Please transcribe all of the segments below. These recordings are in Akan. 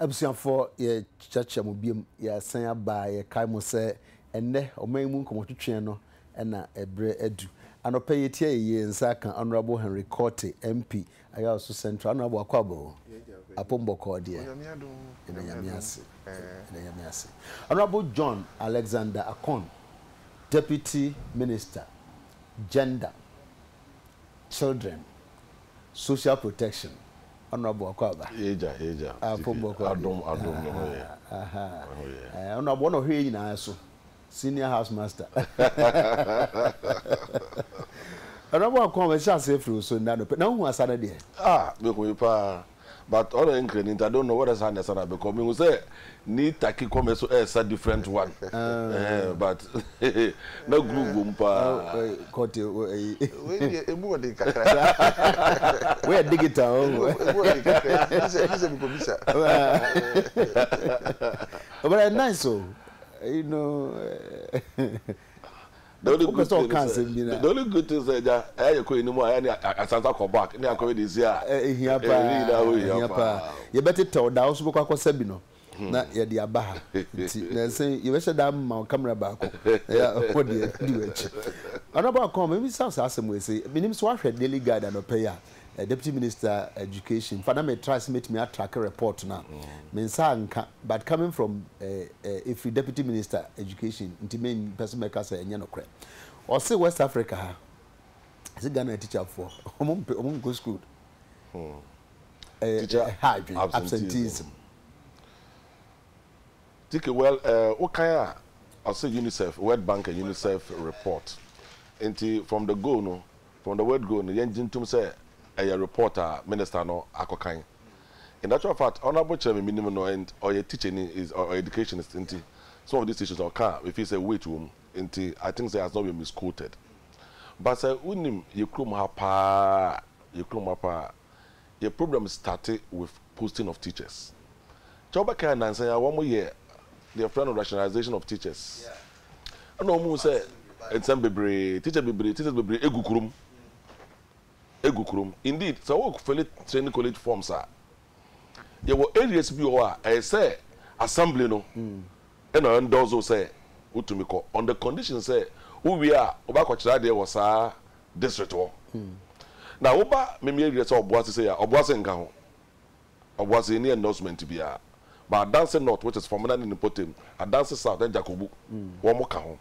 Abusuafoɔ, yɛkyeakyea mo biom, yɛasan aba a yɛkae mo sɛ ɛnnɛ ɔman yi mu nkɔmɔtwetweɛ no na ɛberɛ adu. Anɔpa yi yɛtia yɛyie nsa aka Honourable Henry Korte MP Ayawaso Central, Honourable Akwaabo Apom bɔkɔɔ deɛ, yɛda Nyame ase, yɛda Nyame ase. Honourable John Alexander Akon, Deputy Minister, Gender, Children social protection ɔno aboa kɔ aba Agya agya ah fom bɔ kɔ ade adom adom ne ho yɛ ne ho yɛ ɔno aboa na ɔhwɛ yɛ nyinaa so senior house master ɔno aboa kɔ aba ɛhyɛ aseɛ firi wo so nna no pɛ na wohu asa no deɛ ah mehu yi paa. but ɔno nkra ni nti I don't know whether saa na ɛsa no a because mehu sɛ ni taki kɔ me so ɛsa different one ɛhɛn ah. but na groove wom paa. Kɔte ɛyi. Wei deɛ emu ɔden kakra. Wei yɛ digital. Emu ɔden kakra ɛti sɛ ɛti sɛ mi kɔ bisa. Ɔbɛrɛ nice o. You know. Wopɛ sɛ ɔka asɛm bi no a. The only good thing sɛ agya ɛyɛ yɛkɔ yɛn anim a ɛyɛ ne asan sa kɔ back ne akɔyɛ deɛ ɛsi a ɛhia paa ɛyɛ nyinaa hɔ hia paa. Yɛbɛtetɛw da a wo nso bɛkɔ akɔsa bi no na yɛde aba ha nti nansa yi yɛbɛhyɛ da ama wo camera baako na yɛ wɔ deɛ di w'akyi. Honourable Akon mebisa wo saa asɛm wei sɛ menim sɛ woahwɛ Daily Guide anɔpa yi a Deputy Minister Education fa na me try sɛ mɛtumi a track report no a me nsa anka but coming from ɛfiri Deputy Minister Education nti me mpɛ sɛ mɛka sɛ ɛnyɛ nokorɛ. Ɔse West Africa ha ɛsɛ Ghana teacher foɔ ɔmo mpɛ ɔmo nkɔ school ɛyɛ ɛha adwene absenteeism. Tike well wo kan a ɔse UNICEF World Bank and UNICEF report nti from the go no From the word go no, yɛngye ntom sɛ ɛyɛ report a minister no akɔkan. In actual fact, Honourable kyerɛ me menim no and ɔyɛ teacherni, is ɔyɛ educationist nti some of these issues no ɔka a mefeel sɛ weight wɔ mu nti I think sɛ has not been misquoted. But sɛ wonim yɛ kurom ha paa a, yɛ kurom ha paa a, Yɛ problem starte with posting of teachers kyɛ wo bɛkae nansa yi a wɔn yɛ deɛ yɛfrɛ no rationalization of teachers ɛna wɔn hu sɛ nsɛm bebree teacher bebree teachers bebree egu kurom egu kurom indeed sɛ wɔwɔ fɛle training college forms a yɛwɔ areas bi wɔ hɔ a ɛyɛ sɛ assembly no ɛna ɛndɔɔso sɛ wotumi kɔ on the condition sɛ wowie a wɔbɛakɔkyerɛ adeɛ wɔ saa district hɔ. Na wo ba Mimi Ayirɛ sɛ ɔboa sesei a, ɔboa se nka ho. Ɔboa se ɛnni endorsement biara. But Adanse North which is Fomena ne ne mpɔtam, Adanse South ne Dzakobu, wɔn ka ho.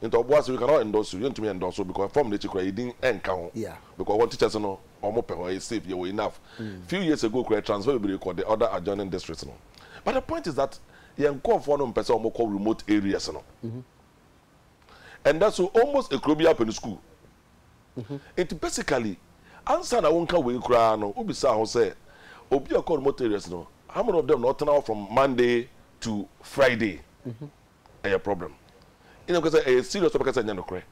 Nti ɔboa se we cannot endorse you, yɛntumi endorse wo because form no akyi koraa yɛ din nka ho. Because wɔn teachers no wɔn pɛ hɔ, ɛyɛ safe, yɛwɔ enough. Few years ago koraa yɛ transfer bebree kɔ the other adjoining districts no. But the point is that yɛn nkorɔfoɔ no mpɛ sɛ wɔn kɔ remote areas no. ɛnda so almost ekuro biara pɛ ne sukuu. Nti basically ansa na wonka wei koraa no wobisaa ho sɛ obi a ɔkɔ remote areas no how many of them na ɔtena hɔ from Monday to Friday? Ɛyɛ problem. Ɛna ɛka sɛ ɛyɛ serious ɔbɛka sɛ ɛnyɛ nokorɛ.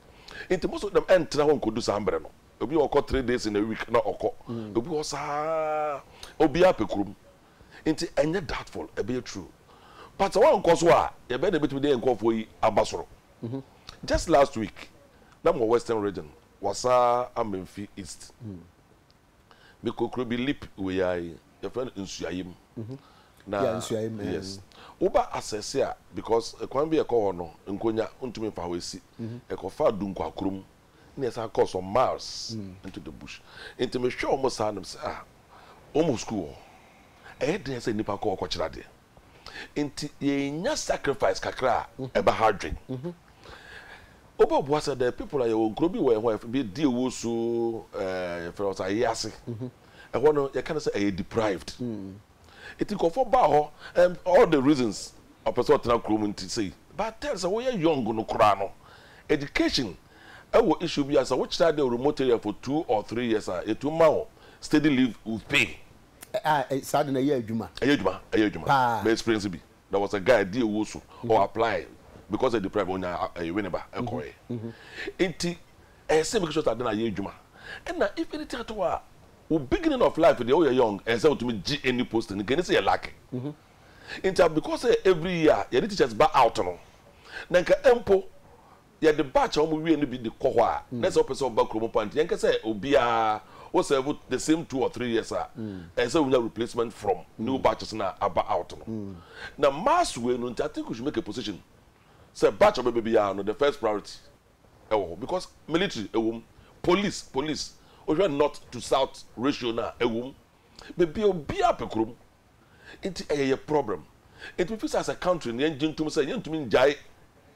Nti most of them ɛntena hɔ nkɔdu saa mberɛ no. Obi wɔ ɔkɔ three days in a week na ɔkɔ. Obi wɔ hɔ saa obiara pɛ kurom. Nti ɛnyɛ doubtful, ɛbɛyɛ true. But sɛ wankɔ so a, deɛ bɛn na ɛbɛtumi de yɛn nkorɔfoɔ yi aba soro? Just last week, na mewɔ Western Region, Wasaa Amenfi East. Mekɔ kuro bi lip wei ara yi, yɛfrɛ no Nsuaem. Na, yes, woba Asese a, because kwan bi a ɛkɔ hɔ no, Nkonya, wontumi mfa hɔ ɛsi. Ɛkɔfa Dunkwakrom na yɛsan kɔɔ some miles into the bush. Nti mehwɛ wɔn saa na mesɛ ah, wɔn wɔ sukuu wɔ hɔ. Ɛyɛ den sɛ nnipa kɔ hɔ kɔkyerɛ adeɛ. Nti yɛnya sacrifice kakra a, ɛba ha dwen. Wobɛboa sɛ there are people a yɛwɔ nkuro bi wɔ yɛn ho a yɛfrɛ bi Di Owusu, eh, yɛfrɛ hɔ sɛ Ayease. Ɛhɔ no yɛka no sɛ ɛyɛ deprived. Enti nkurɔfoɔ baa hɔ and all the reasons ɔpɛ sɛ ɔtena kurom nti sei but then sɛ woyɛ young no koraa no education wɔ issue bi a sɛ wokyerɛ adeɛ wɔ remote area for two or three years a yɛtumi ma wo steady leave with pay. A saa de no ɛyɛ adwuma. Ɛyɛ adwuma ɛyɛ adwuma Paa. mɛ experience bi there was a guy di owuo so ɔ apply because ɛyɛ deprived ɔnya ɛyɛ winneba ɛkɔɛ nti ɛyɛ sɛ make sure sɛ ade no ayɛ adwuma ɛna if anything at all a Wo beginning of life deɛ woyɛ young ɛnsɛ sɛ wotumi gye any post no nka ɛni sɛ yɛ lucky nti a because sɛ every year yɛde teachers ba out no na nka mpo yɛde batch a wɔn wie no bi de kɔ hɔ a na ɛsɛ sɛ wopɛ sɛ ɔba kurom mpo a nti yɛnkɛ sɛ obiara wo serve the same two or three years a ɛnsɛ sɛ wonya replacement from new batches no a aba out no na mass wei no nti I think we should make a position sɛ batch a ɔbɛba biara no the first priority ɛwɔ hɔ because military ɛwɔ mu, police police wohwɛ north to south ratio no a ɛwɔ mu, bebia obia pɛ kurom nti ɛyɛ yɛ problem nti me feel sɛ as a country no yɛn gye ntom sɛ yɛn ntumi ngyae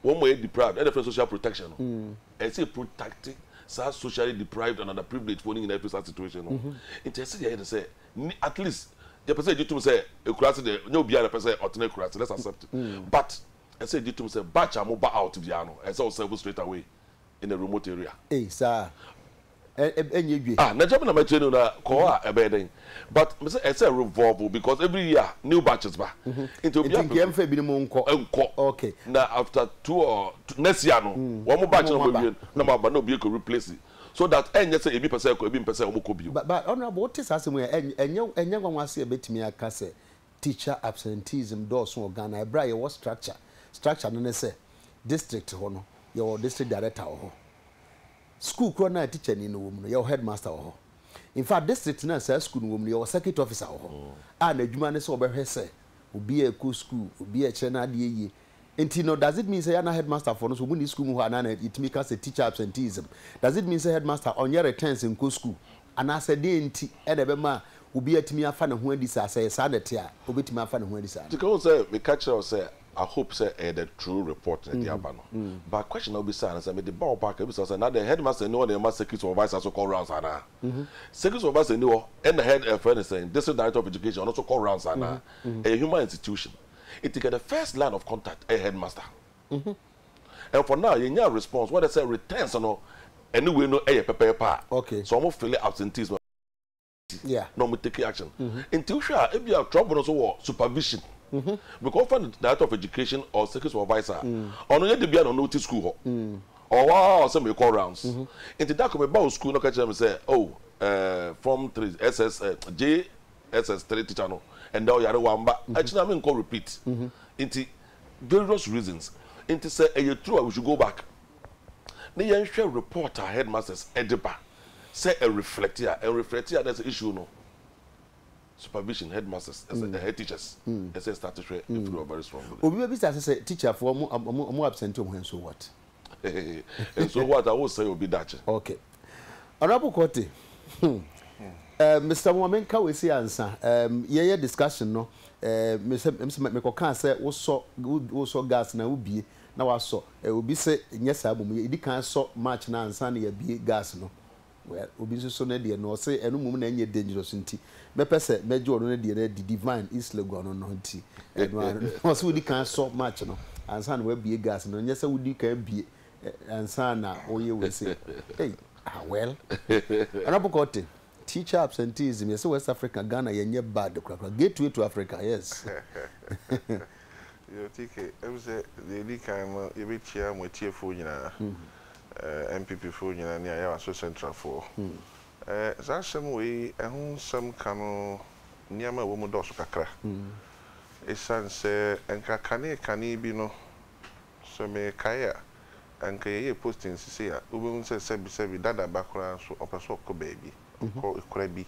wɔn mo a ɛyɛ deprived ɛna ɛfrɛ social protection no ɛyɛ sɛ yɛ protect saa socially deprived and underprivileged foɔ no nyinaa firi saa situation no ho nti ɛyɛ sɛ yɛyɛ no sɛ ni at least yɛpɛ sɛ yɛgye tom sɛ ɛkuraase deɛ nyɛ obia na ɛpɛ sɛ ɔtena ɛkuraase let's accept but Ɛsɛ yɛgye tom sɛ batch a mo ba out biara no, ɛsɛ sɛ wo serve straight away in a remote area. Ei saa a, ɛ ɛ ɛnyɛ dwe. Ah, n'agya me na mɛkyerɛ no na kɔ hɔ a ɛbɛyɛ dɛn? But me sɛ ɛsɛ revolve because every year new batches ba. Nti obiara pɛ so. Nti nka yɛmfa ebinom nkɔ. Nkɔ. Okay. Na after two or next year no, wɔn batch no a wɔawie no na wɔaba na obi akɔ replace so that ɛnyɛ sɛ ebi pɛ sɛ ɛkɔ, ebi mpɛ sɛ wɔkɔ bio. Ba ba Honourable, wote saa asɛm yi a, ɛ ɛnyɛ ɛnyɛ nwanwa ase a yɛbɛtumi aka sɛ teacher absenteeism dɔɔso wɔ Ghana ɛberɛ a yɛwɔ structure, structure no ne sɛ district hɔ no yɛwɔ district director wɔ hɔ, school korɔ no a teacher ni no wɔ mu no yɛwɔ headmaster wɔ hɔ. In fact district no a saa school no wɔ mu no yɛwɔ circuit officer wɔ hɔ a n'adwuma ne sɛ ɔbɛhwɛ sɛ obiara ɛkɔ school, obiara ɛkyerɛ n'adeɛ yie, Nti no does it mean sɛ yɛ a na headmaster foɔ no nso ɔmo nni school mu hɔ anaa na yɛtumi ka sɛ teacher absenteeism does it mean sɛ headmaster ɔnyɛ returns nkɔ school anaa sɛ deɛn nti na ɛbɛma obi atumi afa ne ho adi saa sɛ ɛyɛ saa na ɛte a ɔbɛtumi afa ne ho adi saa no. Sika hu sɛ me ka kyerɛ wo sɛ I hope sɛ ɛyɛ the true report na ɛde aba no but question a wo bisaa no sɛ me de ba wo back a me bisa wo sɛ na dɛn headmaster nni hɔ na yɛma circuit supervisor nso kɔ rounds anaa circuit supervisor nni hɔ ɛna head ɛfrɛ no sɛn district director of education ɔno nso kɔ rounds anaa ɛyɛ human institution. Nti kɛ the first line of contact ɛyɛ headmaster mm-hmm and for now yɛnnya response wɔdɛ sɛ returns no ɛne wei no ɛyɛ pɛpɛɛpɛ a okay sɛ wɔn file absentees no yeah na wɔn take action mm-hmm nti wohwɛ a ebi a trouble no so wɔ supervision mm-hmm because wɔfa no director of education or security supervisor mm-hmm ɔno yɛ de bia na ɔno ti school hɔ mm-hmm ɔwɔ a ɔsɛ mi kɔ rounds mm-hmm nti dako mi ba o school na ɔka kyerɛ mi sɛ oh ɛɛ eh, form three ss eh, j SS three teacher no ɛnɛ ɔyare wamba akyi na menkɔ repeat nti various reasons nti sɛ ɛyɛ true a we should go back ne yɛn hwɛ report a headmasters ɛde ba sɛ ɛ reflect a ɛn reflect a na ɛsɛ issue no supervision headmasters ɛsɛ ɛhɛ teachers ɛsɛ start hwɛ ɛfiri hɔ very strongly. Obi bɛ bisa sɛ sɛ teacher foɔ ɔmo ɔmo ɔmo absent ɔmo hɛ nso what. Nso what a wo sɛe obi dakye. Okay. Honourable Quartey, hmm, eh, Mister Mo, me nka wei si ansa, eh, yɛ yɛ discussion no, eh, me sɛ, me sɛ, me kɔ kan sɛ wo sɔ, wo sɔ gas na wo bie, na wa sɔ, eh, obi sɛ nyɛ saa mum, yɛ di kan sɔ match na ansa na yɛ bie gas no, well, obi nso so ne deɛ no, ɔse ɛno mum na ɛnyɛ dangerous nti, mɛ pɛ sɛ mɛ gye ɔno ne deɛ no adi, Divine East Legon no no nti, ɛno ano, ɔse wo di kan sɔ match no, ansa na wa bie gas no, nyɛ sɛ wo di kan bie, ansa na ɔyɛ wei sei ei ah well honourable Korteng teacher absenteeism yɛsɛ West Africa Ghana yɛnyɛ bad korakora gateway to Africa yes. Yo TK, ɛm sɛ deɛ ɛdi kan no yɛbɛkyia mo atiefoɔ nyinaa, ɛɛ NPP foɔ nyinaa ne Ayawaso Central foɔ. Ɛɛ saa asɛm wei ɛho nsɛm ka no nneɛma a ɛwɔ mu dɔɔso kakra. Ɛsiane sɛ nka kane kane bi no So merekae a, anka yɛyɛ posting sesei a, wobɛhu sɛ sɛbisɛbi dada ba koraa nso ɔpɛ sɛ ɔkɔ baabi, ɔkɔ kora bi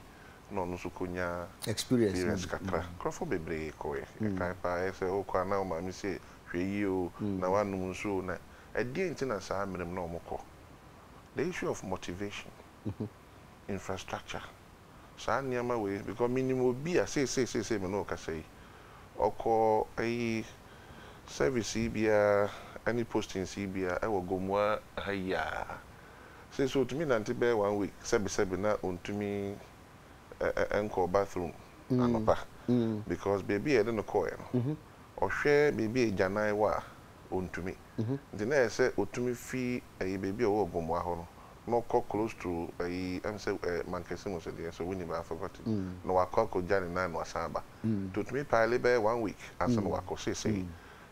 na ɔno nso kɔnya experience kakra. Nkurɔfoɔ bebree kɔeɛ, yɛkae paa, ɛyɛ sɛ wokɔ a na wo maame se hwɛ yie o, na woanom nsuo o, na ɛdeɛn nti na saa mmerɛ mu na wɔkɔ? The issue of motivation, infrastructure. saa nneɛma wei because menim obi a seesei seesei me ne wo kasa yi ɔkɔ ayi service yi biara ne postings yi biara wɔ Gomoa ha yi a seesei ɔtumi nante bɛyɛ one week sɛbesɛbe na ɔntumi nkɔ bathroom anɔpa because baabi a yɛde no kɔeɛ no ɔhwɛ baabi a agyanan wɔ a ɔntumi nti na ɛyɛ sɛ ɔtumi fi ayi baabi a ɔwɔ wɔ Gomoa hɔ no no kɔ close to ayi ɛm sɛ ɛ Mankɛse mu so deɛ so wonni bɛ I forgot it na wakɔ akɔgya ne nan na wasan aba nti otumi pile bɛyɛ one week ansa na wakɔ seesei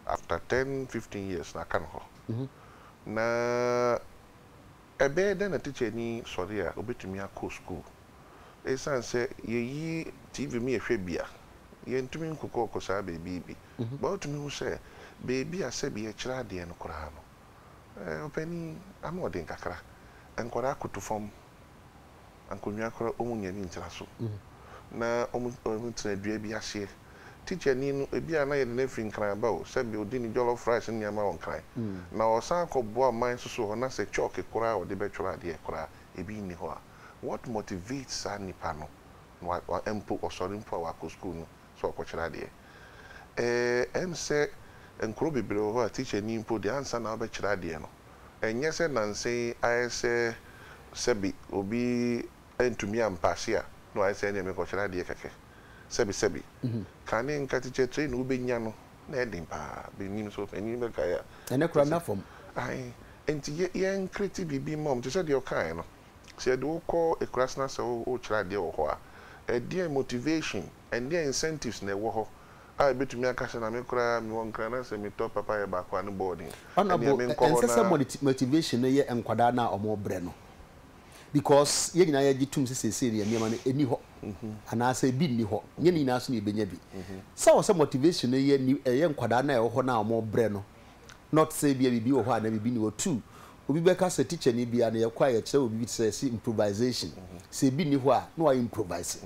after ten fifteen years na aka no hɔ na ɛbɛyɛ dɛn na tikyani sɔre a obetumi akɔ sukuu esiane sɛ yɛyi TV mu yɛhwɛ bi a yɛntumi nkokɔ kɔ saa baabi bi bɛ wotumi hu sɛ baabi a sɛbi yɛkyerɛ adeɛ no koraa no. Ɔpanin ano ɔden kakra. Nkwadaa koto fam. Nkonnwa koraa wɔn nnya bi ntra so. Na wɔn tena dua bi aseɛ. Tikyani no ebi a na yɛde no afiri Nkran ba o, sɛbi ɔdi ne jollof rice ne nneɛma wɔ Nkran. Na ɔsan akɔ boa man nso so hɔ na sɛ chalk koraa a ɔde bɛtwerɛ adeɛ koraa ebi nni hɔ a. What motivates saa nipa no na wa wa mpo ɔsɔre mpo a wakɔ sukuu no sɛ ɔrekɔkyerɛ adeɛ. Ɛɛ ɛm sɛ nkuro bebree wɔ hɔ a tikyani mpo deɛ ansa na wobɛkyerɛ adeɛ no, ɛnyɛ sɛ nansa yi ayɛ sɛ sɛbi obi antumi ampaase a na wayɛ sɛ ɛnneɛ merekɔkyerɛ adeɛ kɛkɛ. Sɛbi sɛbi. Kane nka teacher training a wobɛnya no na ɛyɛ den pa ara. Menim so panin bɛkae a. Ɛnnɛ koraa nna fam. Ae. Nti yɛ yɛn create biribi mma wɔn te sɛ deɛ ɔkaeɛ no. Sɛ yɛde wo kɔ eklass na sɛ worekyerɛ adeɛ wɔ hɔ a, ɛdeɛn motivation, ɛdeɛn incentives na ɛwɔ hɔ a ɛbɛtumi aka sɛ na me koraa mewɔ nkran na sɛ metɔ papayɛ baako a ne boarding, ɛnneɛ Honourable, menkɔ hɔ ɛnsɛ sɛ na. motivation no yɛ nkwadaa no a wɔrebrɛ no because yɛn nyinaa yɛgye tom sɛ seesei deɛ nneɛma no ɛnni hɔ anaasɛ ɛbi nni hɔ, nyɛ ne nyinaa nso na yɛbɛnya bi. Sɛ ɛwɔ sɛ motivation no yɛ ɛyɛ nkwadaa no a ɛwɔ hɔ no a wɔrebrɛ no not sɛ ebia biribi wɔ hɔ a na biribi nni hɔ. Two, obi bɛka sɛ tikyani bi a na yɛkɔ a yɛkyerɛ wɔ biribi te sɛ yɛse improvisation, sɛ ebi nni hɔ a na wayɛ improvise.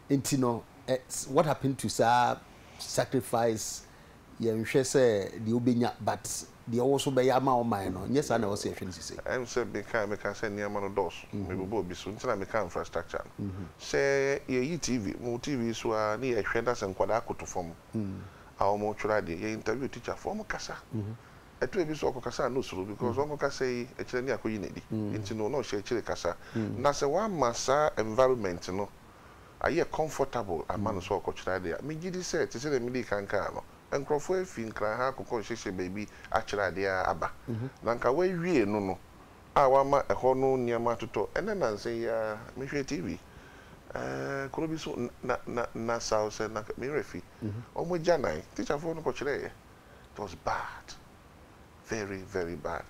Enti no ɛ what happened to saa sacrifice yɛnhwɛ sɛ deɛ wobɛnya but deɛ ɔwɔ so bɛyɛ ama ɔman no, nyɛ saa na ɛwɔ sɛ yɛhwɛ no sisei. Ɛm sɛ mekae mekaa sɛ nneɛma no dɔɔso, mebobɔɔ bi so nti na mekaa infrastructure no. Sɛ yɛyi TV, mo TV so ara ne yɛhwɛ na sɛ nkwadaa koto fam a ɔmo twerɛ adeɛ yɛ interview teacher foɔ ɔmo kasa ɛtɔ ebi so ɔkɔ kasa a na osuro because ɔnko kasa yi ɛkyerɛ ne akɔyi nedi nti no na ɔhyɛ akyire kasa na sɛ wama saa environment no ayɛ comfortable ama no sɛ ɔkɔ kyerɛ adeɛ a me gyidi sɛ te sɛdeɛ medi kan kaa no nkorɔfoɔ afi nkran ha akokɔ nhyɛhyɛ baabi akyerɛ adeɛ a aba na nka wawie no no a wama ɛhɔ no nneɛma atotɔ. Ɛnnɛ nnansa yi ara, mehwɛɛ TV, ɛɛ, kuro bi so, Na, Na, Nassau sɛ, Na, me werɛ fi. Wɔn agyanan, tikyafoɔ no kɔkyerɛeɛ. It was bad. Very, very bad.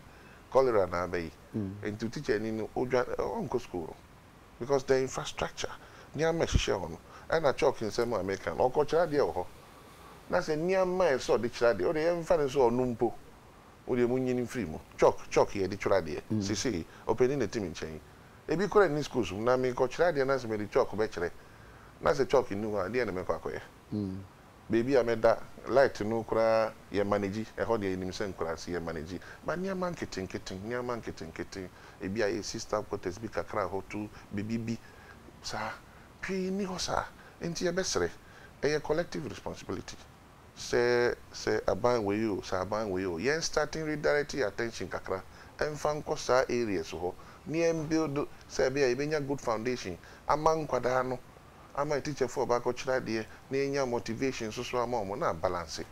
Cholera na aba yi. Nti tikyani no, ɔdwa, ɔnkɔ sukuu no. Because the infrastructure, nneɛma a ɛhyehyɛ hɔ no, ɛna chalk nsɛm a meka no, ɔkɔkyerɛ adeɛ wɔ hɔ. Na sɛ nneɛma a ɛsɛ sɛ ɔde kyerɛ adeɛ, wo deɛ yɛmfa no sɛ ɔno mpo, Mo deɛ monyin mfiri mu. Chalk, chalk yɛde twerɛ adeɛ seesei. Ɔpanin na ɛte me nkyɛn yi. Ebi koraa nni schools mu. Na merekɔkyerɛ adeɛ na sɛ mede chalk bɛkyerɛ na sɛ chalk nni hɔ a, ɛdeɛn na mɛkɔ akɔyɛ? Baabi a mɛda, light no koraa yɛ manage. Ɛhɔ deɛ yɛnim sɛ nkuraase, yɛ manage. But nneɛma nketenkete, nneɛma nketenkete, ebi ayɛ sister quarters bi kakra hɔ, tu biribi bi saa. Pii nni hɔ saa. Enti yɛbɛsrɛ. Ɛyɛ collective responsibility. sɛ sɛ aban wei o, sɛ aban wei o, yɛn starting redirect yɛn attention kakra mfa nkɔ saa areas hɔ ne yɛn build sɛ ɛbɛyɛ a yɛbɛnya good foundation ama nkwadaa no ama atikyafoɔ a wɔba akɔkyerɛ adeɛ na yɛnya motivation nso so ama wɔn na abalanse.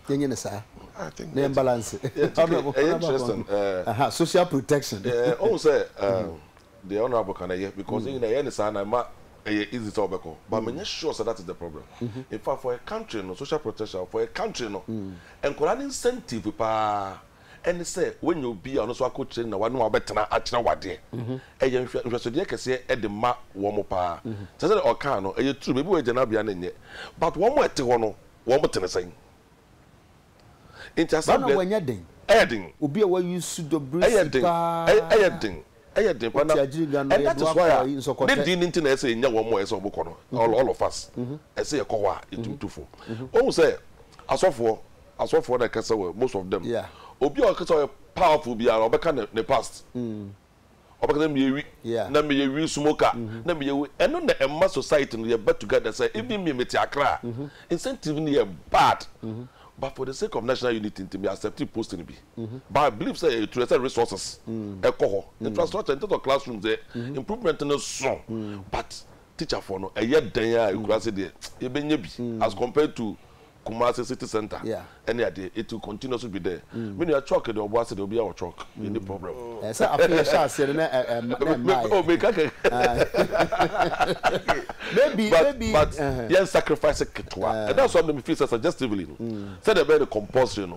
Yɛnyɛ no saa I think na yɛn ɛte balanse. yeah, TK, Honourable ɛyɛ Honourable interesting Akwankwo. eh, Aha, social protection. eh, ɔhu sɛ eh, Deɛ honourable ka no ɛyɛ because ne nyinaa yɛyɛ no saa na ɛma ɛyɛ easy sɛ wobɛkɔ but menyɛ sure sɛ that is the problem infact for a country no social protection for a country no nkwadaa no incentive paa ɛne sɛ wanya obi a ɔno nso akɔ training na w'ane wo a wobɛtena akyerɛ wo adeɛ ɛyɛ nhwɛsodeɛ kɛseɛ de ma wɔn paa sɛ sɛdeɛ ɔkaa no ɛyɛ true baabi wɔ yɛ gyanabea no nyɛ but wɔn a ɛte hɔ no wɔn te ne sɛn? Nti asɛm deɛ. Bana wanya den. Ɛyɛ den. Obi a wayi su dɔ bere si paa. Ɛyɛ den. Ɛyɛ den. Ɛyɛ den paa na. Ɔte agyiri dwa no ɔyɛ do akɔ ayi nsɔkɔtɛ. Ne din no nti na ɛsɛ yɛnya wɔn a ɛsɛ wɔn kɔ no all of us. Ɛsɛ yɛ kɔ hɔ a yɛ tumi tu fo. Wahu sɛ asɔfoɔ asɔfoɔ na ɛkasa wɔ most of them. Obi a ɔkasa ɔyɛ powerful biara ɔbɛka ne past. Ɔbɛka sɛ meyɛ wi Yeah. na meyɛ wi so mu ka na meyɛ wi ɛno na ɛma society no yɛba together sɛ even me mete Accra a incentive no yɛ bad but for the sake of national unity nti me accept post no bi but I believe sɛ ɛyɛ true ɛsɛ resources ɛkɔ hɔ infrastructure in terms of classrooms deɛ improvement no so but teacherfoɔ no ɛyɛ dɛn a ɛkuraase deɛ yɛbɛnya bi as compared to Kumasi city centre Yeah. ɛne adeɛ it will continue so bi dɛ me nua chalk deɛ ɔboa se deɛ obiara wɔ chalk yɛnni problem Ɛɛ, sɛ afe yɛhyɛ aseɛ no na ɛ- ɛ- na Me- me- ɛmmaeɛ. oh, meka kɛ Okay. Maybe- but, maybe- but ɛhɛ. yɛn sacrifice ketewa and that's why me feel sɛ suggestively no sɛdeɛ ɛbɛyɛ no compulsory no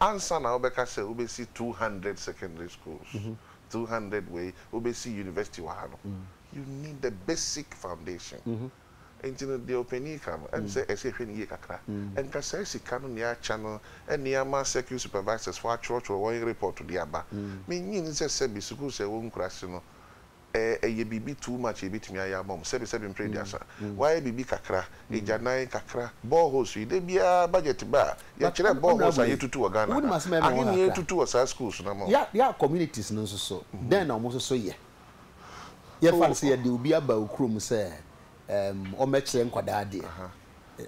Ansa na wobɛka sɛ wobɛsi two hundred secondary schools, two hundred wei, wobɛsi university wɔ ha no, you need the basic foundation. Nti no deɛ ɔpanin ka no, ɛm sɛ ɛsɛ yɛhwɛ no yie kakra. Nka saa sika no nea akyɛ no nea ama circuit supervisors foɔ atwerɛtwerɛ wɔn report de aba. Mennye nni sɛ sɛbi sukuus a ɛwɔ nkuraase no, Ɛɛ ɛyɛ biribi too much a yɛbɛtumi ayɛ ama wɔn, sɛbesɛbe mprɛ aduasa, wɔayɛ biribi kakra, agyanan kakra, boreholes yi, da biara budget ba a, yɛkyerɛ boreholes a yɛtutu wɔ Ghana ha, ahe na yɛtutu wɔ saa schools no ama wɔn. Their communities no nso so, dɛn na wɔn nso so yɛ? Yɛmfa no sɛ yɛde obi aba wo kurom sɛ ɛɛm ɔmmɛkyerɛ nkwadaa adeɛ,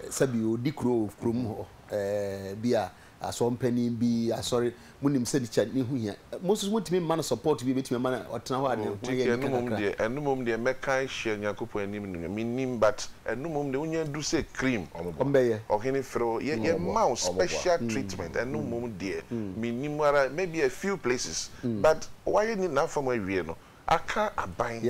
sɛbi ɔdi kuro wɔ kurom hɔ ɛɛ bi a, Asɔr mpanyin bi, asɔre, munim sɛ ne kyɛ, ne ho hia. Mo nso so motumi mma no support bi a ebetumi ama no ɔtena hɔ a ne ho ayɛ anika kakra. Ɛno mmom deɛ, ɛno mmom deɛ mɛka ahyia Nyankopɔn anim no nyɛ, mennim, but ɛno mmom deɛ wonya du sɛ cream, Ɔmbɛyɛ. ɔhene frɛ wo, yɛ, yɛma wo special treatment, ɛno mmom deɛ, mennim ara, maybe a few places, but wayɛ ne, n'afa mu awie no, Aka aban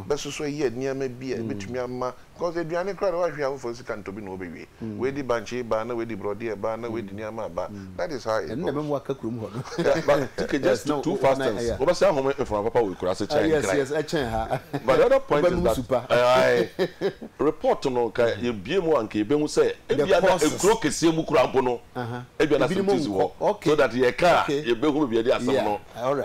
bɛsoso ayɛ nneɛma bi a ɛbɛtumi ama because aduane koraa deɛ woahwe a wofoforɔ sika ntɔ bi na wɔbɛwie. Woadi bankye baa na woadi borɔdeɛ baa na woadi nneɛma aba. That is how it goes. Ɛno na ɛbɛma woaka kurom hɔ no. Yeah but just two two fastings wobɛsan ahome mframa papa wɔ akuraase kyɛn nkran. Yes yes ɛkyɛn ha. But the other point is that ae report no nka yɛbue mu a nka yɛbɛhu sɛ ebia na nkuro kɛseɛ mu koraa mpo no ebia na asɛm ti si hɔ so that yɛka a yɛbɛhu baabi a yɛde asɛm no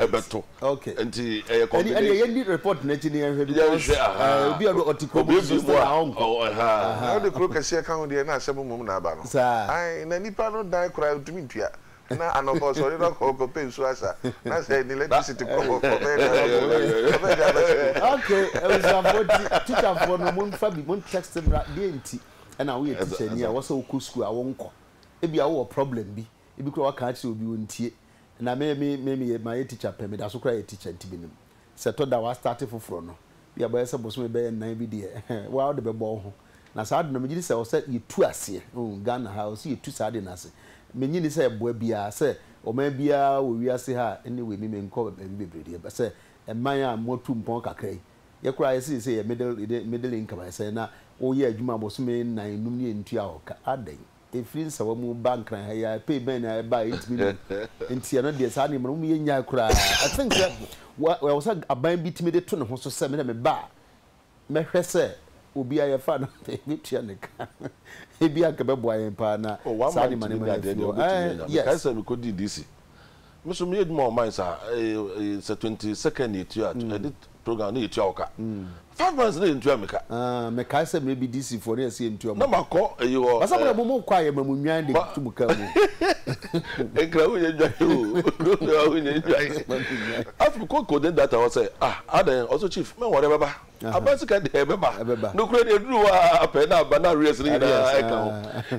bɛto. Okay. Nti ɛyɛ combination. Ɛni ɛni yɛn di report n'akyi ni yɛn hwɛ because. Yɛn hwɛ ahaa. Ɛɛ obi a ɔte kuro mu nso still a ɔnkɔ. Ahaa. Na ɔde kuro kɛseɛ ka ho deɛ na asɛm mmom na aba no. Saa. Ayi na nipa no dan koraa ntumi ntua. Na anɔpa ɔsɔre na ɔkɔ ɔkɔ pɛ nsuo asa. Na sɛ ne electricity kɔ hɔ ɔbɛyɛ dɛ ɔbɛkɔ ɔbɛyɛ ɔbɛyɛ dɛ aba sukuu. Okay abusuafoɔ nti teacher foɔ no mo nfa bi mo text mmra deɛ nti ɛna woyɛ teacher ni a ɛwɔ sɛ wokɔ sukuu a wonkɔ. Ebi a wowɔ problem bi ebi koraa waka akyerɛ obi ontie. na me me me meyɛ mayɛ teacher pɛ medaso koraa yɛ teacher nti menim sɛ tɔ da wa start foforɔ no bia bɛyɛ sɛ bosome bɛyɛ nnan bi deɛ ɛhɛn waa wode bɛbɔ wo ho na saa ade no megye di sɛ ɔsɛ yɛtu aseɛ oh Ghana ha ɔsɛ yɛtu saa ade no ase menye ni sɛ ɛboa biara sɛ ɔman biara wɔ wiase ha anyway me menkɔ baabi bebree deɛ ba sɛ ɛman a moatu mpɔn kakra yi yɛ koraa yɛsɛ yɛsɛ yɛ middle middle income ayɛ sɛ na woyɛ adwuma bosome nnan num ne yɛntua hɔ ka adɛn ɛfiri nsawa mu ba nkran ha yi ara, pay bɛn na ɛba a yɛntumi nnim nti ɛno deɛ saa nneɛma no mom yɛnnyae koraa. I think sɛ ɛwɔ sɛ aban bi tumi de to ne ho so sɛ me na meba a mɛhwɛ sɛ obiara yɛfa no mɛtua ne ka ebia anka ɛbɛboa yɛn paa na saa nneɛma nneɛma no afi hɔ. Ɛɛ yes. Mekae sɛ mekɔdii DC Me so meyɛ adwuma wɔ mines a sɛ twenty second na yɛtua a ɛde program na yɛtua wo ka. Five months na yɛntua me ka. Mekae sɛ mmerɛ bi DC foɔ na yɛse yɛntua mo ka. Na makɔ ɛyi hɔ. Basa mmerɛ mo mo kɔ a yɛma mo nnwan de to mo ka mu. Nkra wo nyɛ nnwan o. Nkra wo nyɛ nnwan. Afei mekɔ coordinate data hɔ sɛ ah adɛn ɔse chief mɛnware ɛbɛba. Aba sika deɛ ɛbɛba. Nokorɛ deɛ ɛduru hɔ a pɛ na aba na arrears no nyinaa ɛka ho.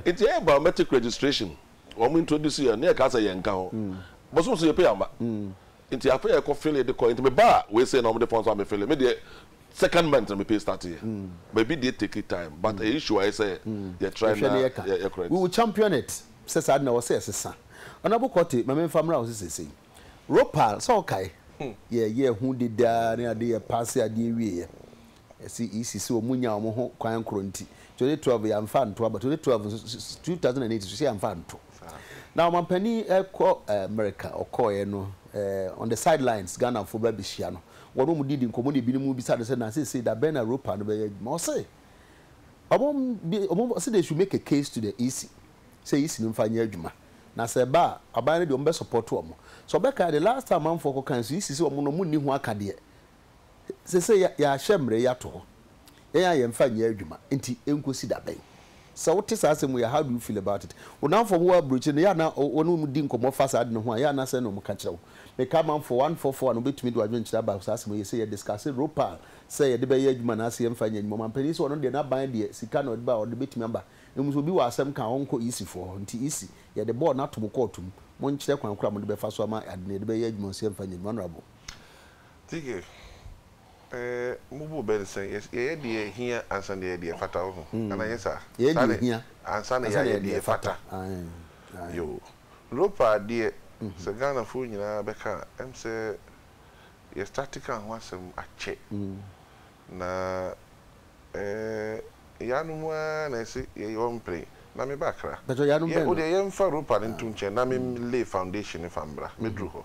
Nti ɛyɛ baa mɛte registration. Wɔn introduce yɛn na yɛkaa sɛ yɛn nka ho. Bosom so yɛ pay amba. Nti afei yɛkɔ file de kɔɛ. Nti me baa wei sei na wɔn de fɔn so ame file. Me deɛ second month na me pay start yɛ. But ebi deɛ take time but ɛyɛ issue ayɛ sɛ yɛ try na yɛ correct. We will champion it sɛ saa de na ɛwɔ sɛ yɛsesa. Honourable Kortey ma me nfa mmra wo so seisei. Ropal sɛ wo kae yɛ yɛɛ ho dede ara ne ade yɛ pass adeɛ wie yɛ. Ɛsi isi sɛ ɔmo nya ɔmo ho kwan koro nti twenty twelve yɛ anfa anto aba twenty twelve nso two thousand and eight nso yɛ anfa anto na ɔmanpanin ɛkɔ America ɔkɔɔ yɛ no ɛɛ on the side lines Ghana fo bɛ bɛhyia no wɔn ɔmo didi nkɔmɔ na ebinom bisa no sɛ na sese da bɛn na Europa no bɛyɛ adwuma ɔse ɔmo bi ɔmo ɔse they should make a case to the isi sɛ isi no nfa nyɛ adwuma na sɛ ɛba a aban no deɛ ɔmo bɛ support ɔmo sɛ ɔbɛka yɛ de last time amanfoɔ kɔ kan so isi sɛ ɔmo no ɔmo nni ho akadeɛ Ɛsɛ sɛ yɛahyɛ mmara yi ato hɔ, yɛn a yɛmfa nyɛ adwuma nti, enkosi da bɛn? Sɛ wote saa asɛm wei a, how do you feel about it? Wo nnamfo a wɔwɔ aburokyiri no, yɛ a na wɔne wɔn di nkɔmmɔ fa saa ade no ho a, yɛ a na sɛn na wɔka kyerɛ wo? Meka amanfoɔ, one four four, a na wɔbɛtumi de wɔn adwenkyerɛ aba saa asɛm wei, yɛsɛ yɛ discusse Ropal sɛ yɛde bɛyɛ adwuma anaasɛ yɛmfa nyɛ adwuma. Ɔmanpanin yi sɛ ɔno deɛ n'aban deɛ sika na ɔde ba a, ɔde bɛtumi aba. Mmom sɛ obi wɔ asɛm ka a, ɔnkɔ EC foɔ hɔ. Nti EC, yɛde bɔɔl no ato mo kɔɔto mu, monkyerɛ kwan korɔ a mode bɛfa so ama ade no, yɛde bɛyɛ adwuma anaasɛ yɛmfa nyɛ adwuma. Honourable. Tike, Ɛɛ, mo bo bɛn sɛ yɛyɛ deɛ ɛhia ansa na yɛayɛ deɛ ɛfata, wohu, anaa ɛnyɛ saa? Yɛyɛ deɛ ɛhia ansa na yɛayɛ deɛ ɛfata. Yoo. Ropa deɛ, sɛ Ghanafoɔ nyinaa bɛka a, ɛm sɛ yɛ starte ka ho asɛm akyɛ. Na ɛɛ, yɛanom ara na ɛse yɛyɛ ɔmpene, na meba Accra. Yɛ, wodeɛ yɛmfa Ropa no nto nkyɛn na mem lay foundation no fa mbra, mɛduru hɔ.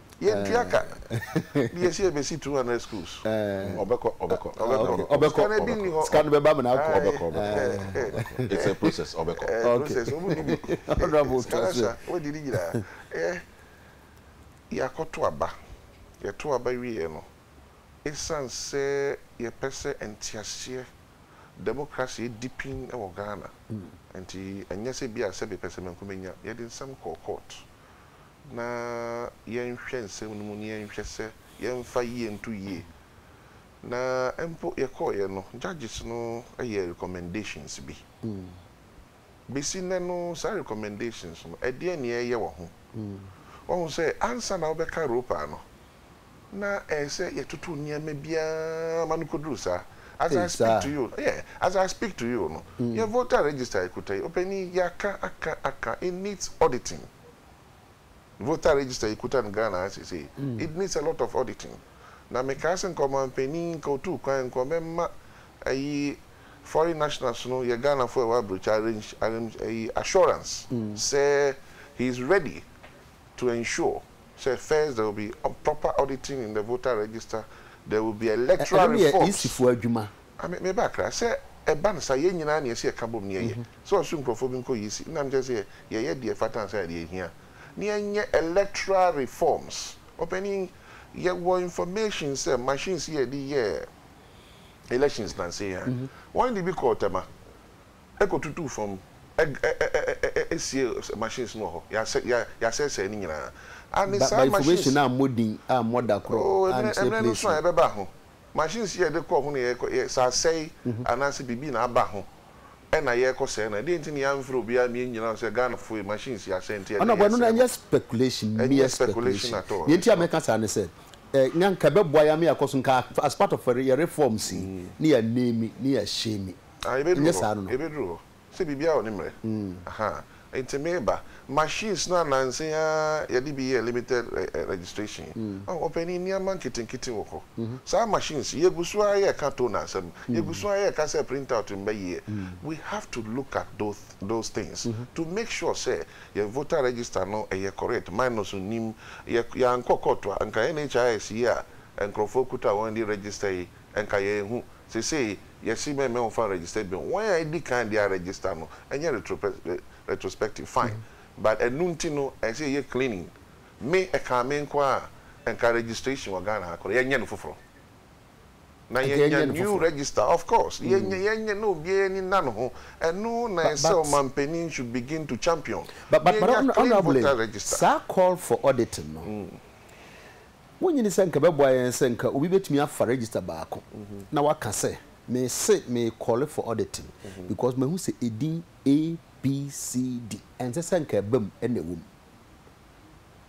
Yɛntua ka. Ne yɛsi ɛbɛsi 200 schools. Ɔbɛkɔ, ɔbɛkɔ, ɔbɛkɔ. Sika no ebi nni hɔ. Sika no bɛba amena akɔ. Ɔbɛkɔ, ɔbɛkɔ. It's a process, ɔbɛkɔ. Process, ɔmu nni bi. Sika no sa, wadi ne nyinaa. Yɛakɔto aba. Yɛto aba wieɛ no, ɛsiane sɛ yɛpɛ sɛ nteaseɛ, democracy, di pin wɔ Ghana nti, ɛnyɛ sɛ bi a sɛbe pɛsɛmenkomenya, yɛde nsɛm kɔɔ court. na yɛnhwɛ nsɛm no mu na yɛnhwɛ sɛ yɛmfa yie nto yie. Na mpo yɛkɔeɛ no, judges no yɛɛ recommendations bi. Bɛsi nnɛ no, saa recommendations no, ɛdeɛn na ɛreyɛ wɔ ho? Woahu sɛ ansa na wobɛka Roper no, na ɛyɛ sɛ yɛtoto nneɛma biara ma no kɔduru saa. As I speak to you, yeah, as I speak to you no, yɛn voter register a yɛkuta yi, ɔpanin, yɛaka, aka, aka, it needs auditing. Voter register yi kuta no Ghana ha sesei. It needs a lot of auditing. Na mekaa sɛ nka ɔmanpanin, nka ɔtuu kwan, nka ɔbɛma ayi foreign nationals no, yɛ Ghanafo a ɛwɔ abrokyi arrange, arrange ayi assurance sɛ he is ready to ensure sɛ first there will be proper auditing in the voter register, there will be electoral reforms. Ɛno no yɛ EC foɔ adwuma. Ame meba akra sɛ ɛba no saa yɛn nyinaa nea ɛsɛ yɛka bom ne yɛyɛ sɛ ɔse nkurɔfoɔ bi nkɔ EC na mekyerɛ sɛ yɛyɛ deɛ ɛfata ansa na deɛ ɛhia ne yɛnyɛ electoral reforms ɔpanin yɛwɔ information sɛ machines yi a yɛde yɛɛ elections nansa yi a wɔn de bi kɔɔ Tema ɛkɔ tutuu fam ɛg ɛ ɛ ɛ ɛ ɛsie machines no wɔ hɔ yɛasɛ yɛ yɛasɛesɛe ne nyinaa ane Ba ba saa machines information a mmɔ din a mmɔ da korɔ oh ɛmmerɛ ankyerɛ ɛmmerɛ no nso a places. ɛbɛba ho. Machines yi a yɛde kɔ ho na yɛkɔ yɛ sɛ asɛe anaasɛ biribi na aba ho na yɛkɔ sɛe no. Ɛdeɛn nti na yɛanfrɛ obiara ma yɛnnyina ho sɛ Ghanafoɔ ei machines yi asɛe nti ɛdeɛn Ɔnɔbɔ, yɛsɛe no? ɛnyɛ speculation, Ɛnyɛ mere speculation speculation. at all, Deɛ nti a meka saa ne sɛ, eh, na nka ɛbɛboa yɛn ama yɛakɔ so, nka as part of yɛn reforms yi, na yɛaname, na yɛahyɛmi. Ah, yɛbɛduru Ɛnyɛ hɔ, saa no no? yɛbɛduru hɔ. Sɛ biribiara wɔ ne mmerɛ ahaa nti meba. Machines no a nansa yi ara yɛde bi yɛɛ limited registration yi, oh ɔpanin nneɛma nketenkete wɔ hɔ. Saa machines yi yɛgu so ara yɛka toner asɛm, yɛgu so ara yɛka sɛ print out mma yie. We have to look at those things to make sure sɛ yɛn voter register no ɛyɛ correct, minors nnim. Yɛankɔ court a nka NHIS yi a nkurɔfoɔ kuta wɔn de register yi nka yɛnhu. Seesei Yɛse mɛ mɛ ɔnfa registered bill wɔn a edi kan de a register no ɛnyɛ retrospective fine but ɛno nti no ɛsɛ yɛyɛ cleaning me ɛkaa me nko ara a nka registration wɔ Ghana ha korɔ yɛnyɛ no foforɔ na yɛnya new register of course yɛnyɛ yɛnyɛ na obiara ani nna ne ho ɛno na ɛsɛ ɔmanpanin should begin to champion na yɛnya clean voter register. Saa call for auditing no Wunnye nni sɛ anka ɛbɛboa yɛn sɛ anka obi betumi afa register baako na waka sɛ, Mise merekɔle for auditing because mahu sɛ edin ABCD ɛnsɛ sɛ anka ɛbam na ɛwom.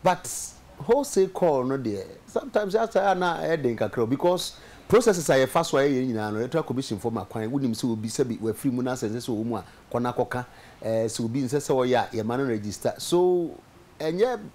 But wholesale call no deɛ, sometimes yɛ ataa a na ɛyɛ den kakra o because processes a yɛfa so a yɛyɛ no nyinaa no, Electoral Commission foɔ ma kwan, wonim sɛ obi sɛbi wafiri mu na sɛ ɛnsɛ sɛ ɔwɔ mu a, kɔ na kɔka. Sɛ obi nsɛ sɛ ɔyɛ a, yɛma no register. So ɛnyɛ.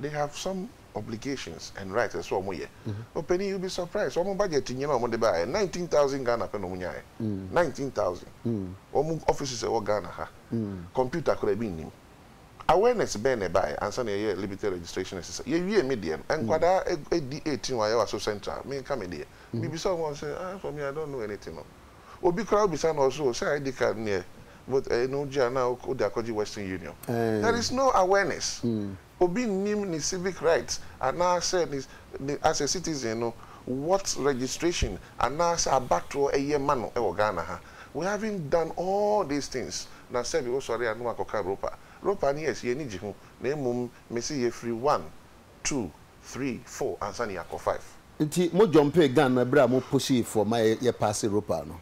they have some obligations and rights ɛsɛ sɛ wɔn yɛ. Ɔpanin you be surprised wɔn budget nyina a wɔn de baayɛ nineteen thousand Ghana pɛ na wɔn nyaayɛ nineteen thousand wɔn offices ɛwɔ Ghana ha computer koraa ebi nnim awareness bɛn na ɛbaayɛ ansa na yɛyɛ liberty registration ɛsesa yɛ wie me deɛ no nkwadaa edi eighteen wɔn ayɛ wɔ aso central me nka me deɛ mi bisa wɔn sɛ ah for me I don't know anything no. Obi koraa obisa no ɔse oh sɛ ID card neɛ vote ɛyi no wogye a na wode akɔgye western union. There is no awareness. Obi nnim ne civic rights anaasɛ ne ne as a citizen no what registration anaasɛ abatoɔ ɛyɛ ma no wɔ Ghana ha. We haven't done all these things na sɛbi wosɔre a na wakɔka Ropa. Ropa no yes yɛn ani gye ho na mmom mese yɛfiri one two, three, four ansa na yɛakɔ five. Nti mo jɔmpee gan no ɛberɛ a mo posii fɔɔ ma yɛ paase Ropal no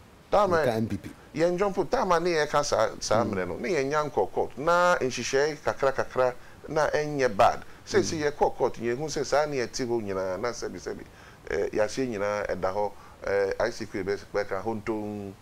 mo ka mpp. Yɛn jɔmpo time a ne yɛ ka saa saa mmerɛ no ne yɛn nya nkɔɔ court na nhyehyɛɛ kakra kakra na ɛnyɛ bad seesei yɛ kɔɔ court yɛn hu sɛ saa ne ɛte hɔ nyinaa na sɛbi sɛbi eh yaseɛ nyinaa ɛda hɔ eh ic kɔ yɛ bɛ ka hontoon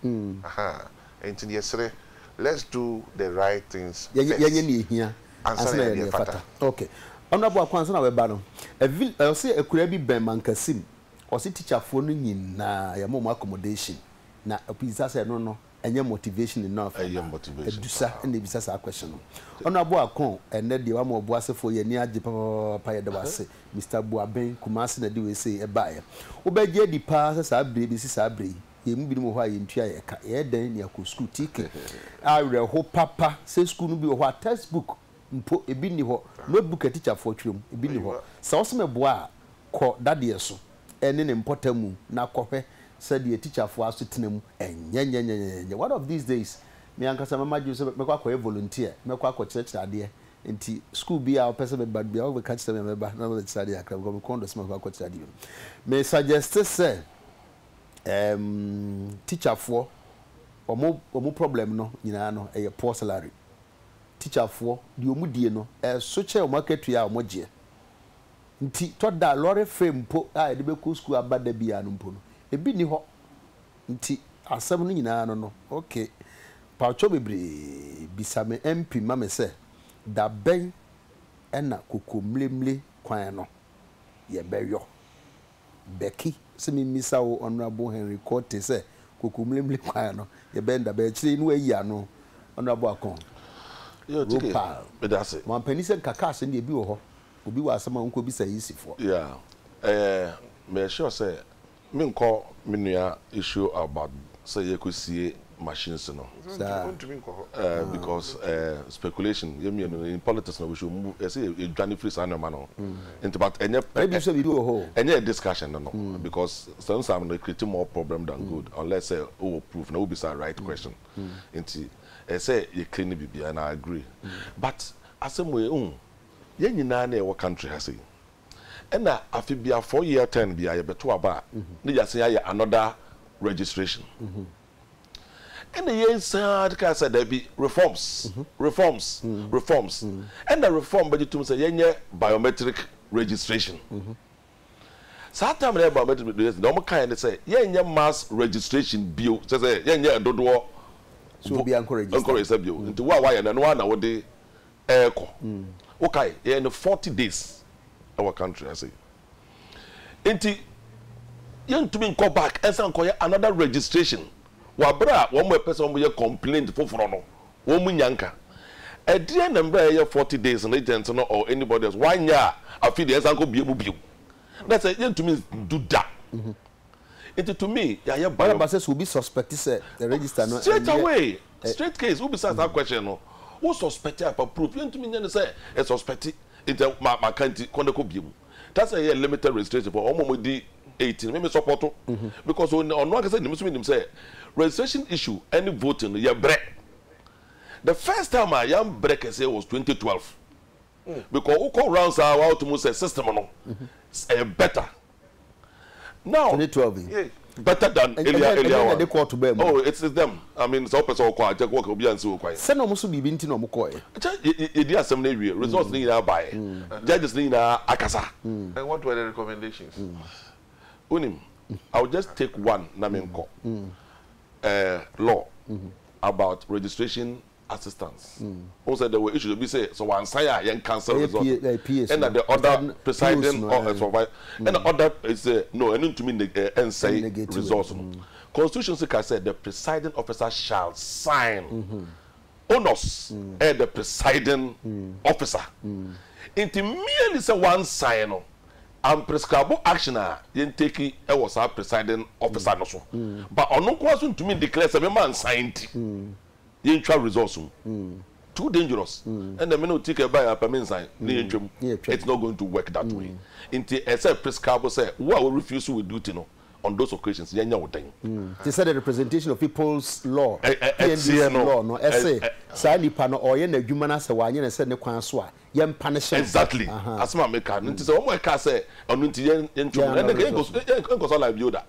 ahaa nti yɛ srɛ let's do the right things first. Yɛnyɛ neɛ ɛhia ansa na yɛayɛ deɛ ɛfata. Ok Honourable Akwan ansa na wɛba no a vil ɔse akuraa bi bɛn Mankasim ɔse teacher foɔ no nyinaa yɛma wɔn accommodation na ɔbisa sɛ ɛno no ɛnyɛ motivation enough anaa? Ɛyɛ motivation paa. Adusa na ɛbisa saa question no. Honourable Akon ɛnnɛ deɛ wama Ɔboasefoɔ yɛn ani agye papapapapa yɛda wo ase Mister Boaben Kumasi na ɛde wei sei ɛbaeɛ. Wobɛgye adi paa sɛ saa berɛ yi bɛsi saa berɛ yi Yɛn mu binom wɔ hɔ a yɛn ntua yɛ ka, yɛyɛ dɛn de akɔ sukuu? Tike, Awerɛhow papa sɛ sukuu no bi wɔ hɔ a textbook mpo ebi nni hɔ, notebook a tikyafoɔ twerɛ mu, ebi nni hɔ. Sɛ wose meboa a, kɔ dadeɛ so ne ne mpɔtam mu na kɔhwɛ sɛdeɛ tikyafoɔ asetena mu nyɛ. Nyɛnyɛnyɛnyɛnyɛ. One of these days, me ankasa mɛma adwene mu sɛ mɛkɔ akɔyɛ volunteer, mɛkɔ akɔkyerɛkyerɛ adeɛ. Enti sukuu biara a wopɛ sɛ mɛba no biara, wobɛka kyerɛ me a mɛba na mabɛkyerɛ adeɛ kakra because me kɔn dɔ sɛ mɛkɔ akɔkyerɛ adeɛ bi no. Me suggeste sɛ. ɛɛm tikyafoɔ wɔn wɔn problem no nyinaa no ɛyɛ poor salary tikyafoɔ deɛ wɔn die no ɛso kyɛ wɔn akatua a wɔn gyeɛ nti tɔ da lorry fare mpo a yɛde bɛkɔ sukuu aba da biara no mpo no ebi nni hɔ nti asɛm no nyinaa no no ok pawkyɛw bebree bisa me MP ma me sɛ da bɛn ɛna kokomlemle kwan no yɛbɛyɔ. Becky, sɛ memmisa wo Honourable Henry Quartey sɛ Kokomlemle kwan no yɛbɛn da bɛn akyire yi na wayi ano Honourable Akon Ropal Boampanin sɛ nka cars no deɛ ebi wɔ hɔ obi wɔ asɛm a ɔnkɔ bisa EC foɔ. Yeah, ɛyɛ meyɛ sure sɛ menkɔ me nua issue about sɛ yɛkɔ sie machines no. Saa. Ɔntumi nkɔ hɔ. Eh, because eh, speculation, yɛ mmienu, in politics na we should move, ɛsɛ yɛ yɛdwane firi saa nneɛma no ho. Nti but ɛnyɛ, ɛ- Ebi sɛ biribi wɔ hɔ o. ɛnyɛ yɛ discussion no no, because sometimes no, it create more problem than good, unless sɛ wowɔ proof na wobisa right question. Nti ɛsɛ sɛ yɛ clean biribiara, and I agree. But asɛm wei, wohu, yɛn nyinaa na yɛwɔ country ha sei, Nna afe biara four year term biara yɛbɛto aba a na yɛasan ayɛ another registration. Nna yɛsan ara kaa sɛ daabi reforms, reforms, reforms. Nna reform bɛgye tom sɛ yɛnyɛ biometric registration. Saa time no a yɛyɛ biometric registration deɛ wɔkaeɛ ne sɛ yɛnyɛ mass registration bio, kyerɛ sɛ yɛnyɛ ɛdodoɔ Sɛ obiara nkɔ register nkɔ register bio. Nti wo a woayɛ no ɛno ara na wode ɛɛkɔ wokae yɛyɛ no forty days ɛwɔ country ase nti yɛntumi nkɔ back ɛnsa nkɔyɛ another registration wabere a wɔn ɛpɛ sɛ wɔn yɛ complaint foforɔ no wɔn mu nya nka ɛdeɛ na mbra yɛyɛ forty days no agent no or anybody else wanyɛ a afi deɛ ɛnsa nkɔ bie mu bio na sɛ yɛntumi ndu da Nti to me yɛayɛ bɔn. Ɛba sɛ sɛ obi suspect sɛ the register no ɛnyɛ. Straight away, straight case, wo bisa saa question no, wo suspect a fa proof, yɛntumi nyɛ no sɛ yɛ suspect nti ma ma ka nti kɔ na kɔ bue mu. That sɛ yɛ limited registration for wɔn a wɔn di eighteen me me support o because ɔn ɔno ankasa nim nso me nim sɛ registration issue ɛne voting no yɛ brɛ. The first time a yɛn brɛ kɛseɛ was twenty twelve because wo kɔ rounds a wa wo to mu sɛ system no ɛyɛ better. Now, twenty twelve yi. Yeah, better than earlier earlier one. Ɛnyɛ na de kɔɔto baa mu. Oh, it's it's them. I mean, sɛ ɔpɛ sɛ ɔkɔ a, jɛkɔ ɔkɛ obi ansi wɔ kwan. Sɛ na ɔmo so biribi nti na ɔmo kɔɛ. Kyɛ yɛ yɛ yɛdi asɛm no awie, results no nyinaa baɛ, judges no nyinaa akasa. And what were the recommendations? Wonim, I will just take one na menkɔ. Eh, law about registration assistance wohu sɛ there were issues ebi sɛ sɛ wansan a yɛn cancel Ɛyɛ result P- eh, PAs ɛna no. the other Presiding- POs presiding no, or eh. supervisor ɛna other eh, sɛ no ɛno ntumi neg- eh, ɛnsɛe Ɛnnegate results no constitution sɛ ka sɛ the presiding officer shall sign onus ɛyɛ the presiding officer nti merely sɛ wansan no unprescribable action a yɛn take ɛwɔ saa presiding officer no so but ɔno nko ara so ntumi declare sɛ mema nsan nti yɛntwa results mu too dangerous ɛnna me na ɔti kɛ baeɛ apɛ me nsan na yɛntwa mu it's not going to work that way nti ɛyɛ sɛ prescable sɛ wo a wo refuse wo duty no on those occasions yɛnyɛ wo dɛn. Te sɛ deɛ representation of people's law, PNDC law, no se saa nipa no ɔreyɛ n'adwuma no ara sɛ wanyɛ no sɛ ne kwan so a yɛn punish no. Exactly asem a meka no nti sɛ wɔn a ɛkaa sɛ ɔno nti yɛn yɛntwa mu no ɛnna nka yɛnkɔ so alive bio da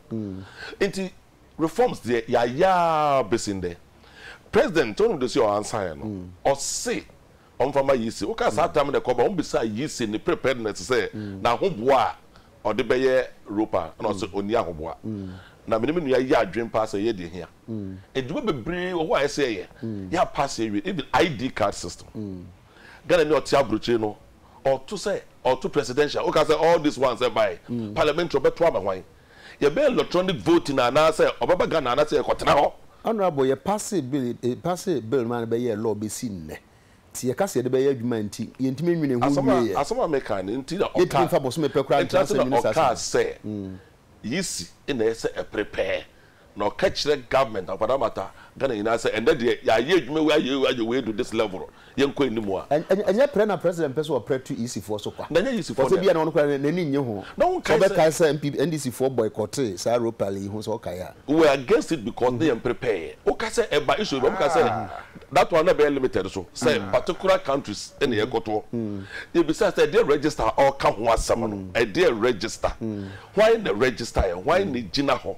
nti Reforms deɛ yɛayɛ ara bɛsi nnɛ. President John Odosi a ɔansaeɛ no, ɔse ɔmfa mma Yisi. Wokaa saa tam no a ɛkɔba, wobisaa Yisi ne preparedness sɛ n'ahoboa a ɔde bɛyɛ Europa a, ɛna ɔse ɔnni ahoboa. Na me ne me nua yɛ adwene paa sɛ ɛyɛ deɛ ɛhia. Adwuma bebree wɔ hɔ a ɛsɛ yɛyɛ. Yɛapaase awie. Even ID card system. Ghanani a ɔte aburokyire no, ɔto sɛ ɔto presidential. Woka sɛ all these ones ɛbaeɛ, parliamentary ɔbɛto ama hwan? Yɛbɛyɛ electronic voting anaasɛ ɔbɛba Ghana anaasɛ yɛkɔtena hɔ. Honourable yɛ passee bill yi yɛ passee bill no maa no bɛyɛɛ law bɛsi nnɛ nti yɛ ka sɛ yɛde bɛyɛ adwuma nti yɛntumi nwene ho Asɛm a nwie yɛ. Asɛm a meka no nti na Yɛntumi ɔkaa nfa bosome pɛ koraa Nti na ntena sɛ na ministers ɔkaa no. sɛ yisi na ɛsɛ ɛpere pɛɛ Na ɔka kyerɛ government akwadaa mata Ghana nyinaa sɛ ɛnɛ deɛ yɛayɛ adwuma wei ayɛ wei ayɛ wei adu this level yɛnkɔ anim a. Ɛnyɛ prɛ na president pɛ sɛ ɔprɛ tu EC foɔ so kwa. Na ɛnyɛ EC foɔ na. Ɔsɛ bia na ɔno koraa n'ani nnye ho. Na wo nkae sɛ. Sɛ ɔbɛkae sɛ NPP NDC foɔ boycotee saa Ropel yi ho sɛ ɔkae a. We were against it because na yɛn prepare. Wo ka sɛ ɛba issue bi a wɔn ka sɛ that one na ɛbɛyɛ limited so sɛ particular countries na yɛkɔtoɔ. Yɛbisaa sɛ ɛdeɛ register a ɔreka ho asɛm no ɛdeɛ register. Hwan na register yɛ? Hwan na egyina hɔ?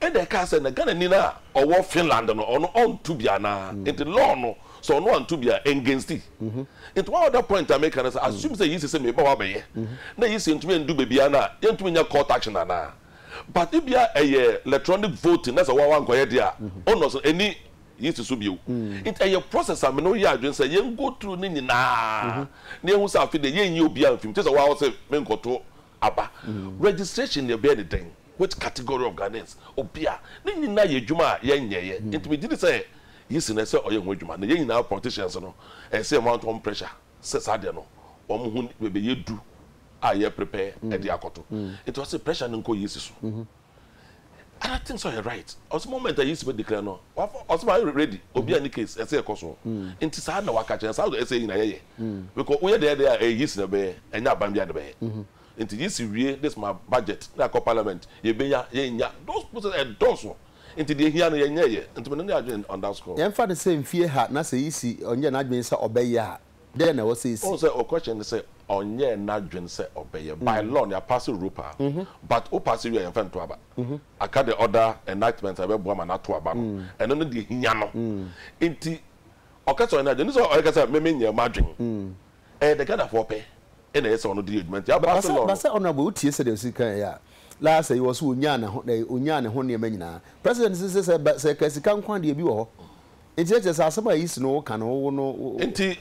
Ɛna ɛkaa sɛ na Ghanani no a ɔwɔ Finland no ɔno ɔnto bi anaa? Nti law no sɛ ɔno anto bi a ɛngainst it. Nti one other point a meka ne sɛ assume sɛ yisi sɛ meba hɔ abɛyɛ na yisi ntumi ndu baabiara no a yɛntumi nyɛ court action anaa? But ebia ɛyɛ electronic voting na sɛ wo a wankɔyɛ deɛ a onus no ɛnni yisi so bio. Nti ɛyɛ process a me ne wo yɛ adwene sɛ yɛn go through ne nyinaa na yɛahu sɛ afe deɛ yɛnyi obiara mfi mu te sɛ wo ara wose menkɔto Aba. Registration no yɛbɛyɛ no dɛn? Which category of Ghanaians? Obi a. Ne nyinaa yɛ adwuma a yɛnyɛeɛ. Nti megye di sɛ Yi si no ɛsɛ sɛ ɔyɛ ho adwuma. Na yɛn nyinaa politicians no ɛsɛ sɛ yɛma wɔn pressure sɛ saa deɛ no wɔn ho nni bɛbɛyɛ du a yɛ prepare de akɔto. Nti ɔse pressure no nkɔ Yi si so. other things ɔyɛ right ɔsɛ moment a yesu bɛ declare no wafa ɔsɛ ma ayɛ ready obi a ne case ɛsɛ ɛkɔ so nti saa na waka kyerɛ saa ɛsɛ nyina yɛyɛ because woyɛ deɛ deɛ a ɛyɛ yesu na ɛbɛyɛ ɛnyɛ aban bi a na ɛbɛyɛ nti yesu wie this ma budget na akɔ parliament yɛbɛnya yɛnya those process ɛdɔɔso nti deɛ hia no yɛnyɛɛyɛ nti mene ne adwene on that score. Yɛmfa no sɛ mfie ha na sɛ yesu ɔnyɛ n'adwene sɛ ɔbɛyɛ a. dɛn na ɛwɔ sɛ esi? Wohu sɛ wo question ne sɛ ɔnyɛɛ n'adwene sɛ ɔbɛyɛ, by law no yɛapaase Europa a, but wo paase wie a yɛmfa nto aba, aka the other enactments a ɛbɛboa ma no ato aba no, ɛno ne deɛ ɛhia no, nti ɔka sɛ ɔnyɛ n'adwene, ɛnne sɛ ɔreka sɛ me menyɛɛ m'adwene, ɛyɛ the Ghanafoɔ pɛ na ɛyɛ sɛ ɔno de yɛ adwuma, nti yɛapaase law no. Basa Honourable wo tie sɛdeɛ ɔsi kaeɛ a, last ɛyɛ ɔse ɔnyaa ne ho nneɛma nyinaa, President se sɛ sɛ ɛka sika nko a deɛ bi wɔ hɔ. Enti na kyerɛ sɛ asɛm a Yisi ne wo ka no wo no. Enti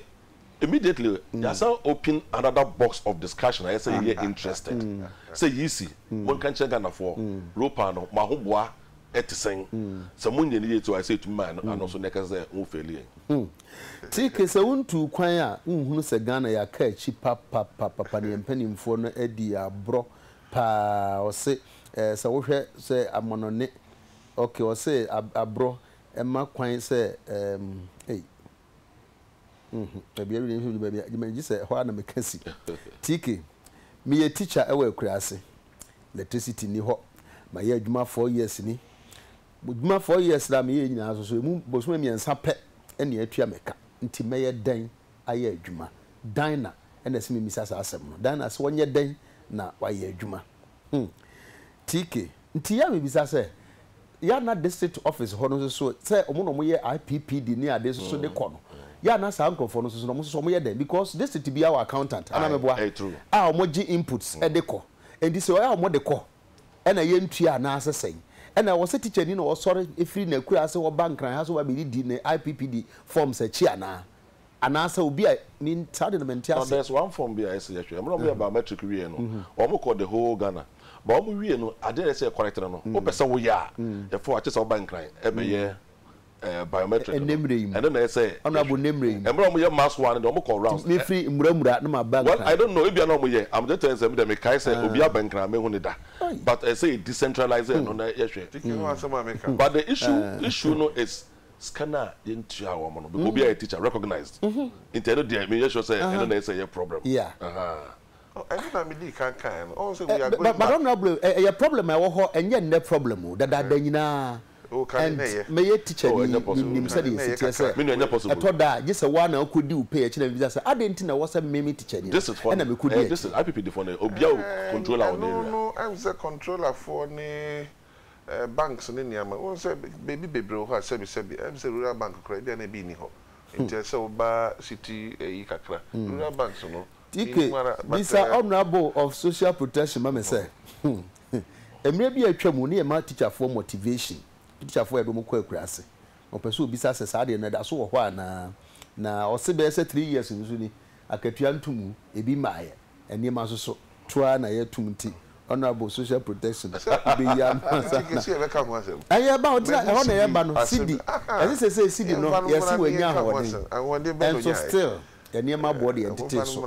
immediately yɛasan open another box of discussion a ɛsɛ sɛ yɛyɛ interested sɛ Yisi monka nkyerɛ Ghanafoɔ Ropa no mo ahoboa te sɛn? Sɛ monyɛ no yie nti ayɛ sɛ yɛtumi mae no ano so na yɛkasa sɛ mo faili yɛn. TK, Sɛ wontuu kwan a wonhunu sɛ Ghana yɛaka akyi papapapapa na yɛn mpanimfoɔ no adi yɛn aborɔ pa ara. Ɔse sɛ wohwɛ sɛ amonone ok ɔse aborɔ Ɛmma kwan sɛ ɛɛm ei mm baabi awie nso du baabi a gyama gye sɛ ɛhɔ ara na meka si. TK, Meyɛ teacher ɛwɔ Akuraase. Electricity nni hɔ. Mayɛ adwuma four years ni. M'adwuma four years no a meyɛɛ nyinaa nso so ɛmu bosome mmiɛnsa pɛ ɛne atua me ka. Nti mɛyɛ dɛn ayɛ adwuma? Dinah ɛna ɛsɛ memmisa saa asɛm no. Dinah, Sɛ ɔnyɛ dɛn na wayɛ adwuma? Hmm. TK. Nti yɛ a mebisa sɛ, yɛ a na district office hɔ no nso so sɛ wɔn na wɔyɛ IPPD ne ade nso so de kɔ no, yɛ a na saa nkurɔfoɔ no nso so no wɔn nso so wɔyɛ dɛn? Because district biara wɔ accountant, anaa meboa, a wɔgye inputs de kɔ. Nti sɛ yɛ a wɔde kɔ na yɛntua anaasɛ sɛn? Ɛna ɛwɔ sɛ teacher ni na ɔsɔre firi n'akuraase hɔ ba Nkran ha sɛ ɔba abɛdidi ne IPPD forms akyi anaa? Anaasɛ obi a ne saa de no mente Na ase. there's one form bi a ɛsɛ yɛhwɛ. Mmerɛ wɔyɛ biometric wieɛ no, wɔn kɔ the whole Ghana. But wɔn wie no, adeɛ a ɛsɛ yɛ correct no no, wopɛ sɛ woyɛ a, ɛfɔ a, kyesɛ woba Nkran bɛyɛ ɛɛ biometric no. Ɛnɛmmerɛ yi mu. Ɛno na ɛsɛ yɛhwɛ. Honourable ɛnɛmmerɛ yi mu. Mmerɛ wɔyɛ mass one no deɛ wɔn kɔ rounds. Nti mefiri Mura Mura na maba Nkran. Well, I don't know, ebia na wɔyɛ. I'm just telling sɛ me deɛ mekae sɛ obi aba Nkran a mehu no da. But ɛsɛ yɛ decentralise ɛno na yɛhwɛ. Ticket ho asɛm a meka no. But the issue issue no is. Sika no a yɛntua wɔn no, obiara yɛ teacher recognised, nti ɛno deɛ menyɛ sure sɛ ɛno na ɛsɛ ɛyɛ problem. Yeah. Ɛno na medii kan kaeɛ no, ɔhu sɛ we are going back. But honourable, ɛyɛ problem a ɛwɔ hɔ, ɛnyɛ nnɛ problem o, dadaada nyinaa, and mɛyɛ teacher ni, menim sɛdeɛ ɛsi teɛ sɛ, ɛtɔ da a, gye sɛ wo ara na wokɔdi wo pɛ, akyi na mebisa sɛ, adɛn nti na ɛwɔ sɛ me, me teacher ni no, ɛna mekɔdi akyi? Ɛno no, ɛnde sɛ controller foɔ ne. ɛɛ banks ne nneɛma. Wohu sɛ baabi bebree wɔ hɔ a sɛbesɛbe, ɛyɛ me sɛ rural bank koraa ebia na ebi nni hɔ. Nti ɛsɛ sɛ woba city ayi kakra. Rural banks no, minnim ara but. TK, Bisa ɛɛ. Ɔmena Bow of Social Protection ma me sɛ, mmerɛ bi a atwa mu ne yɛma tikyafoɔ motivation, tikyafoɔ a yɛde wɔn kɔ akuraase, wɔpɛ sɛ wɔbisa sɛ saa adeɛ no ɛda so wɔ hɔ anaa. Na ɔse bɛyɛ sɛ three years nso ni, akatua nto mu, ebi mmaeɛ. nneɛma so so to ara na yɛ tum nti honourable social protection wobɛ yi ano ansa na ɛyɛ ɛba hɔ nti na ɛhɔ na ɛyɛ ɛba no sidi ɛse sesei sidi no yɛ se wɔ nya ahoɔden ɛnso still yɛ nneɛma aboɔ de yɛ ntetee so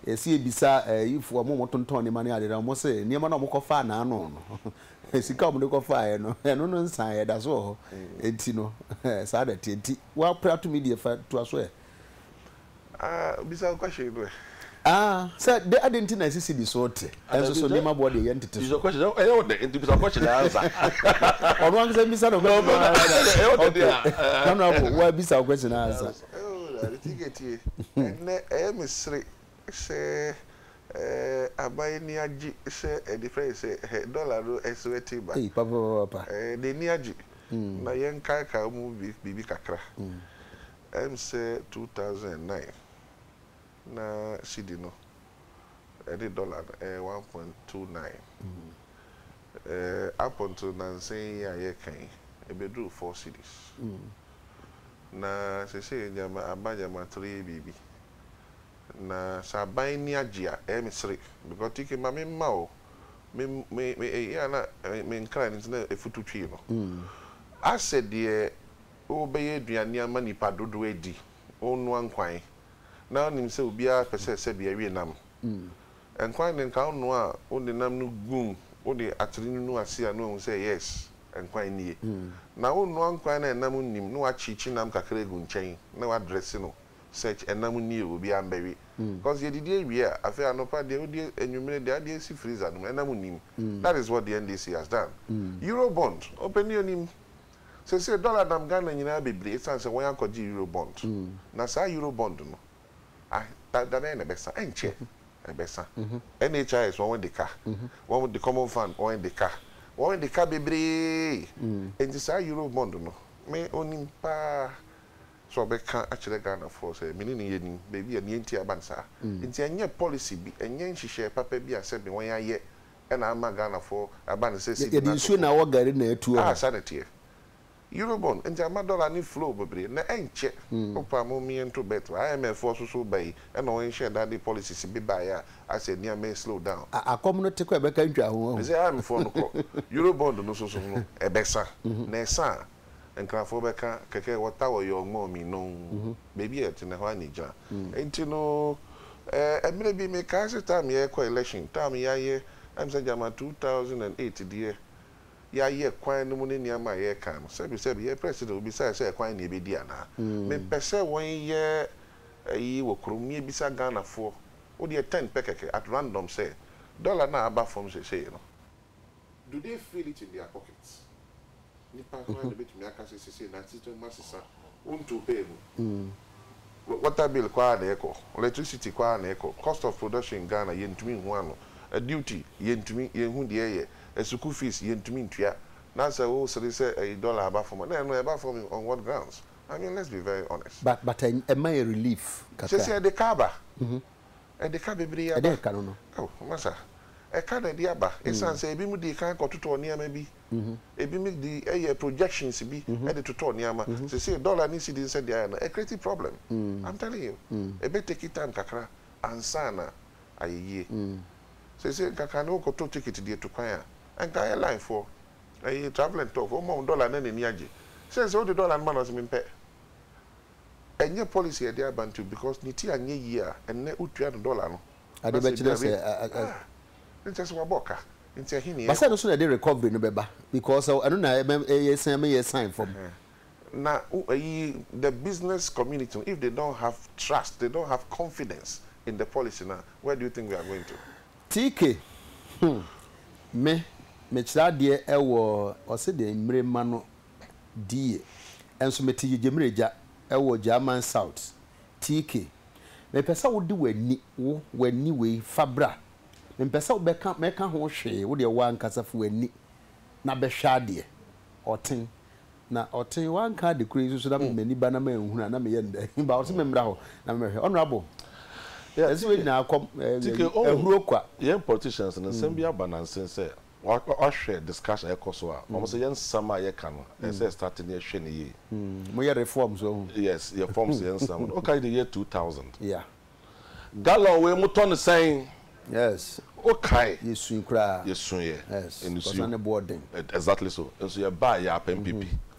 yɛ se yɛ bisa ayifo ɔmo a ɔmo tontɔn nneɛma ne ade na ɔmo se nneɛma no a ɔmo kɔ faa na ano no sika a ɔmo de kɔ faa yɛ no ɛno no nsan yɛ da so wɔ hɔ nti no saa na ɛteɛ nti wo apere ato me deɛ fa toa so ɛ. Ah, bisa wo question no ɛ. Ah, sɛ de adɛn nti na asisi bi so te, nanso so nneɛma boɔ deɛ ɛyɛ ntete so. Bisa question no, ɛyɛ wo dɛ, nti bisa question no ansa. Ɔno ankasa mmisa na ɔbɛtumi ama no answer. Ɛyɛ wo dɛ deɛ a. Okay, honourable, wo ara bisa wo question no ansa. Oh, Ade Tinkɛ tie, ɛnnɛ ɛyɛ me sere sɛ eh, aban ani agye sɛ eh, de frɛ no sɛ eh, dollar no ɛsrɛte ba. Ei, papapapapa. Eh, n'ani agye. Na yɛnkaakae mu biribi kakra. Ɛnsɛ two thousand and nine na cedi no ne dɔla no yɛ one point two nine. Up until nnansa yi a yɛreka yi, ebeduruu four cedis. Na seesei nneɛma aba nneɛma three biribi. Na sɛ aban ani agye a, ɛyɛ me sere because tike ma memma o, me me me eyi a na me nkran no nti na efutu twee no. Asɛ deɛ Wobɛyɛ aduane ama nnipa dodoɔ adi, wonnoa nkwan, na wonim sɛ obiara pɛ sɛ sɛdeɛ ɛwe nam. Nkwan deɛ nka wonoa a wode nam no gum, wode atere nunu ase a na wahu sɛ yes, nkwan nie. Na wonnoa nkwan a ɛnam nnim, na wakyeekye nam kakra agu nkyɛn na wadrɛse no such, ɛnam nie o, obiara mbɛwe. Cause yɛdidi awie a, afei anɔpa deɛ wodi, anwumerɛ deɛ adeɛ si freezer no mu, ɛnam nnim. That is what the NDC has done. Eurobond, ɔpɛ ni ɔnim, Seesei dɔla nam Ghana nyinaa bebree esiane sɛ wɔn akɔgye Euro bond. Na saa Euro bond no, ah, da bɛn na ɛbɛsa? Ɛnkyɛ, ɛbɛsa. NHIS wɔn de ka, wɔn de Common Fund wɔn de ka, wɔn de ka bebree. Enti saa Euro bond no, me onim paa sɛ ɔbɛka akyerɛ Ghanafoɔ sɛ me ne no yɛnim baabi a nea enti a ɛba no saa. Enti ɛnyɛ policy bi, ɛnyɛ nhyehyɛɛ papa bi a sɛbe wɔn ayɛ na ama Ghanafoɔ aba no sɛ cedi na toko. Yɛde nsuo na awɔ gari na atuo hɔ. Ah saa na ɛteɛ. Eurobond nti ama dollar no flow bebree na ɛnkyɛ wopaa mo meɛ nto bet wɔ IMF foɔ so so woba yi na wɔn nhyɛɛ da de policies bi baeɛ a asɛ nneɛma yi slow down. Ah akɔm no te kɔ ɛbɛka ntwa ho wahu. Mese IMF foɔ no kɔ Eurobond no so so no ɛbɛsa na ɛsa a Nkrafoɔ bɛka kɛkɛ wɔ ta wɔ yɔɔ ngɔɔ mi nɔn baabi a ɛtene hɔ ani gya nti no ɛɛ mmerɛ bi me kae sɛ time yɛ kɔ election time yɛ ayɛ ɛm sɛ gyama 2008 deɛ yɛ ayɛ kwan no mu ne nneɛma a yɛ kan no sɛbi sɛbi yɛ president obisaɛ sɛ ɛkwan ne yɛ bɛdi anaa me pɛ sɛ wɔn yɛ ɛyi wɔ krom ne yɛ bisa Ghanafoɔ wo deɛ 10 pɛ kɛkɛ at random sɛ dollar no a aba fam sesei no. Do they feel it in their pockets? Nipa hwan na obetumi aka sɛ sesei n'asetra mu asesa? Wontow pɛɛ mu. Water bill kɔ ara na ɛkɔ, electricity kɔ ara na ɛkɔ, cost of production in Ghana yɛntumi nhu ano, duty yɛntumi yɛnhu deɛ ɛyɛ, asukuu fees yɛntumi ntua, na sɛ wosere sɛ ɛyi dollar aba fam a, na ɛno ɛba fam on what grounds? I mean let's be very honest. But but ɛma yɛ relief kakra. Sesei ɛde ka aba. Ɛde ka bebree aba. Ɛde ɛka no no. Oh, masa. Ɛka na ɛde aba. Esiane sɛ ebinom di kan kɔtotɔ nneɛma bi. Ebinom de yɛ projections bi de totɔ nneɛma. Seesei dollar ne cedi nsɛdeɛ ayɛ no, ɛcreate problem. I'm telling you. Ɛbɛ take time kakra ansa na ayɛ yie. Seesei nkaka no wokɔtɔ ticket de atu kwan a, nka airline foɔ, ɛyi travel and tour foɔ, wɔma wo dollar na n'ani agye. Sɛn sɛ wode dollar no ma no, ɔse mempɛ. Ɛnyɛ policy a yɛde aba nti because ne ti anyɛ yie a ɛnnɛ wotua no dollar no na sɛ ebi awie ah nkyɛ sɛ wabɔ ka nti ɛhe na yɛrekɔ. But sɛ ɛno so na ɛde recovery no bɛba because ɛno na yɛsan ma yɛsan fam. Na ayi the business community no if they don't have trust they don't have confidence in the policy no a where do you think we are going to. TK, hmm me mekyerɛ adeɛ wɔ ɔse deɛ mmire mma no die nso mete gyegyemiragya wɔ German South TK. Mepɛ sɛ wode w'ani, wo, w'ani wei fa bra. Mempɛ sɛ wobɛka, mɛka ho hwee, wo deɛ wo ankasa fi w'ani na bɛhwɛ adeɛ. Ɔten, Na Ɔten, woanka ade koro yi nso so na mede m'ani ba na manhunu a na meyɛ no dɛn? But ɔse memmra hɔ na memmɛhwɛ. Honourable, ɛsɛ wei nyinaa kɔ, eh, TK, oh, ahuro kwa. Yɛn politicians no, nsɛm bi aba nansen sɛ, W'ahwɛ discussion a ɛkɔ so a, wɔn sɛ yɛ nsɛm a yɛ ka no, ɛsɛ sɛ yɛ start no yɛ hwɛ no yie. Mo yɛ reforms w'ahu. Yes, yɛ forms yɛ nsɛm no, wo ka the year two thousand. Yeah. Gallon wei mo tɔ no sɛn? Yes. Wo kae. Yɛ sui koraa. Yɛ suiɛ. Yes, nsuo. Kɔsa ne boɔ den. Exactly so, nso yɛ baa yɛ apɛ mpe pi.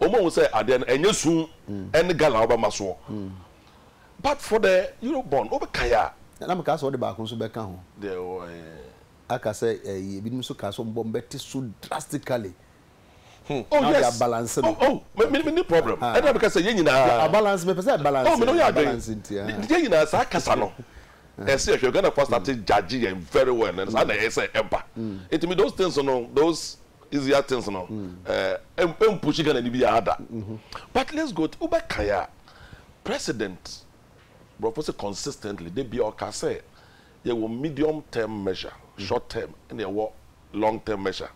wɔahu sɛ adeɛ no ɛnyɛ su ɛne gala a wobɛma soɔ but for the Eurobond wobɛkae a. Na mekaa sɛ wode baako nso bɛka ho. Deɛ wɔ he? Aka sɛ ɛyi ebinom nso kaa sɛ wɔn bɔ wɔn bɛte so drastically. Hmm. Oh yes. Na wɔde abalance no. Oh oh. Me me me ni problem. Ɛna na meka sɛ yɛn nyinaa. Abalance mepɛ sɛ balance. Oh me na yɛ adwene. Balance nti ha. Yɛn nyinaa saa kasa no. Ɛsɛ ɛhwɛ Ghana fo start judge yɛn very well. Ɛna saa na ɛsɛ ɛba. Nti me those things no those. easier things no ɛɛ ɛmpushi Ghana ni biara da but let's go wo bɛ kan a president borɔfo se consistently da biara ɔka sɛ yɛ wɔ medium term measure short term ɛna ɛwɔ long term measure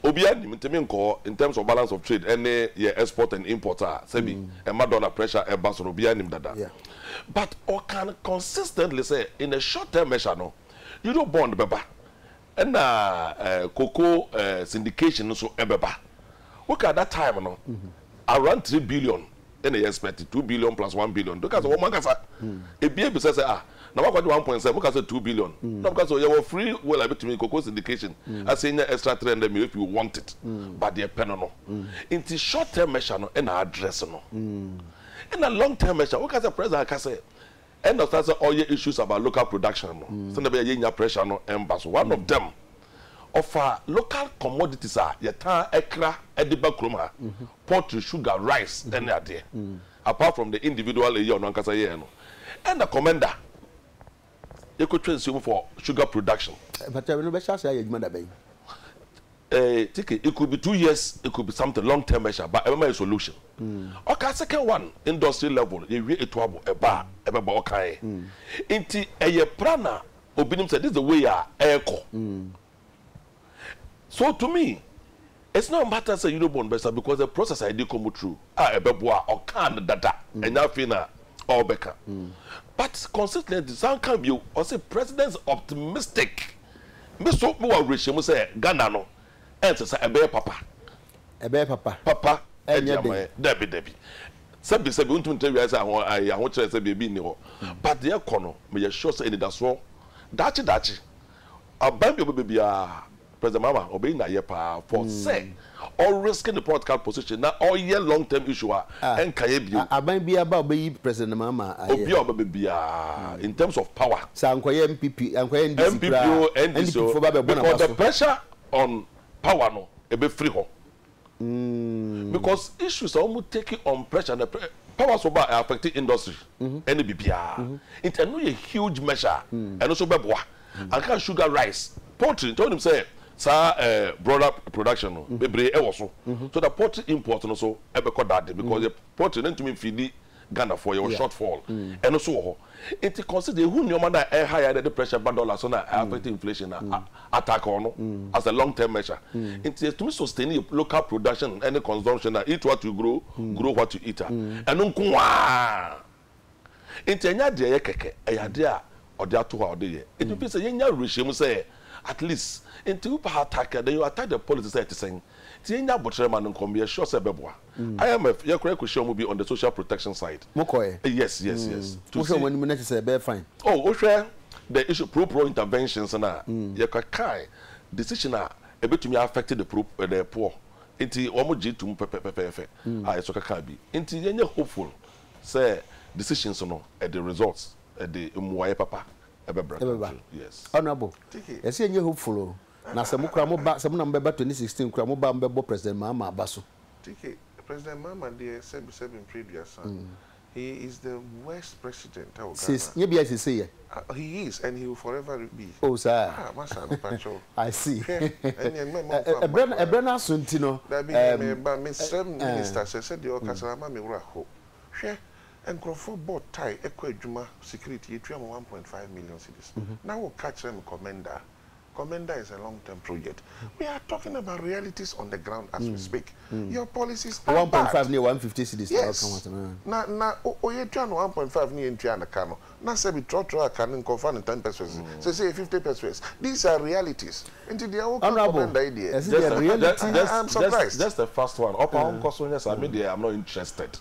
obiara nim nti me nkɔ hɔ in terms of balance of trade ɛne yɛ export and import a sɛbi ɛma dollar pressure ɛba so no obiara nim dada but ɔka no consistently sɛ in a short term measure no euro bond bɛba Ɛna koko syndication nso bɛba. Woka that time no around three billion ɛna yɛ expect two billion plus one billion. Woka sɛ wɔn ankasa ebi ebisa sɛ ah na wakɔgye one point sɛ woka sɛ two billion. Na woka sɛ yɛwɔ free will a ebetumi koko syndication asɛ nya extra three hundred million if you want it. But deɛ pɛ no no. Nti short term measure no ɛna address no. Ɛna long term measure woka sɛ president aka sɛ Ɛna ɔsan sɛ ɔyɛ issues about local production no sɛnea ɛbɛyɛ a yɛnnya pressure no mba so. One of them, ɔfa local commodities a yɛtaa kra de ba kurom ha, poultry, sugar, rice ne adeɛ, apart from the individual eyi a ɔno ankasa yɛɛ no. Ɛna Commenda, yɛkɔtwa nsuo mu for sugar production. Mpakyɛw, ɛno bɛhyɛ ase ayɛ adwuma da bɛn? Eh teke it could be two years it could be something long term measure but ɛbɛma yɛ solution ɔka second one industry level yɛwie etu abo ɛba a ɛbɛba ɔkaeɛ nti ɛyɛ plan a obi nim sɛ this is the way a ɛrekɔ so to me it's not matter sɛ Eurobond bɛsa because the process a yɛde rekɔ mu true a ɛbɛboa a ɔkaa no dada ɛnyɛ afei na ɔrebɛka but consistently san ka bio ɔse president is optimistic. Me nso mewɔ awerɛhyɛmu sɛ Ghana no ɛnsɛ sɛ ɛbɛyɛ papa. Ɛbɛyɛ papa. Papa ɛdi Ɛnyɛ ama den. yɛn. Dabi, dabi. Sɛbi, sɛbi, wontumi nkyerɛ wiase aho, ɛɛ, ahokyerɛ sɛ baabi nni hɔ. But deɛ ɛrekɔ no, meyɛ sure sɛ anidasoɔ, daakye, daakye, aban bi a ɔbɛba biara, President Mahama, ɔbɛyi n'ayɛ paa for sɛ, ɔ risk ne political position na ɔ yɛ long term issue a ɛ nka yɛ bio. Aban biara ba a ɔbɛyi President Mahama a ayɛ. Obiara a ɔbɛba biara in terms of power. Sɛ ankɔyɛ NPP, ankɔyɛ NDC koraa a, NDC foɔ ba bɛbɔ n'aba so. Because the pressure on power no ɛbɛfiri hɔ. Because issues a wɔn take on pressure no power so ba a ɛ affect industry ɛne biribiara. Nti ɛno yɛ huge measure a ɛno nso bɛboa. Anka sugar rice, poultry nkyɛ wonim sɛ saa eh, broiler production no bebree ɛwɔ so so that poultry import no so ɛbɛkɔ dade because yɛ poultry no ntumi mfidi Ghanafoɔ, yɛwɔ short fall ɛno so wɔ hɔ nti consider yɛhu nneɛma no a ɛha yɛn na ɛde pressure ba dollar so na ɛ affect inflation na a attack ɔno as a long term measure nti yɛtumi sustain yɛ local production ɛne consumption a eat what you grow, grow what you eat a ɛno nko ara. Nti ɛnyɛ ade a ɛyɛ kɛkɛ, ɛyɛ ade a ɔde ato hɔ a ɔde yɛ. Nti wopɛ sɛ yɛnya awerɛhyɛmu sɛ at least, nti wopɛ ha attack a, then you attack the policy sɛ ɛte sɛn. Nti yɛnya aboterɛ ma no nkɔ, meyɛ sure sɛ ɛbɛboa. IMF, yɛn koraa yɛkɔhyiaa wɔn bi on the social protection side. Mokɔɛ? Yes, yes, yes. To Wohwɛ wɔn see. anim no ɛte sɛ ɛbɛyɛ fine? Oh, wohwɛ the issue pro poor interventions no a, yɛkɔkae decision a ɛbɛtumi a affect the pro, the poor. Nti wɔn gyee toom pɛpɛpɛpɛɛfɛ a yɛsɔ kɛkaa bi. Nti yɛnyɛ hopeful Sɛ decisions no ɛde results ɛde mmuaɛ papa ɛbɛbra country no yes. Honourable, yɛse yɛnyɛ hopeful o, na sɛ mo koraa mo ba, sɛ mo na mo bɛba twenty sixteen koraa mo ba a mo bɛbɔ President Mahama aba so. TK, President Mahama deɛ sɛbi sɛbi mfeɛ aduasa, he is the worst president ɛwɔ Ghana. Nyɛ biaa sesei ɛ. Ah he is and he will forever be. Oh saa a. Ah masa no pakyɛw. I see. Hwɛ ɛneɛ no mɛma ɔmfa mma koraa. Ɛbrɛ no aso nti no. Dabi hwɛ mɛba mesrɛ minister sɛ sɛdeɛ ɔkasa no ama me wura ho. Hwɛ nkorɔfoɔ bɔ tae kɔ adwuma security yɛtua mo one point five million cedis na woka kyerɛ me kɔmɛndaa Commenda is a long term project we are talking about realities on the ground as we speak your policies are bad. One point five ne yɛ one fifty cedis na ɔka ho asɛm. Yes na na oyɛ tua no one point five ne yɛ ntua no ka no na sɛbi trɔtrɔ a ka no nka ɔfa no ten pesewas sɛsɛ yɛ fifty pesewas these are realities nti deɛ wo ka Commenda yi deɛ I am surprised. Just a fast one ɔpaa ɔnkɔ so nyɛ saa me deɛ I am not interested.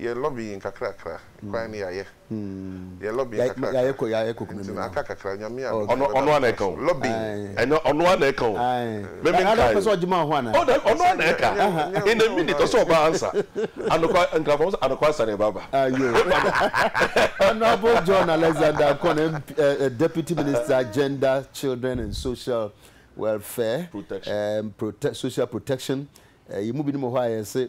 Yɛ lobbying kakrakra, kwan no yayɛ. Yɛ lobbying kakrakra, nti na aka kakra, Nyame a ɔdɔ no bɛba ne kra so, lobbying. Honourable John Alexander Ankon MP, Deputy Minister Gender, Children and Social Welfare, Social Protection, yɛn mu binom wɔ hɔ a yɛse,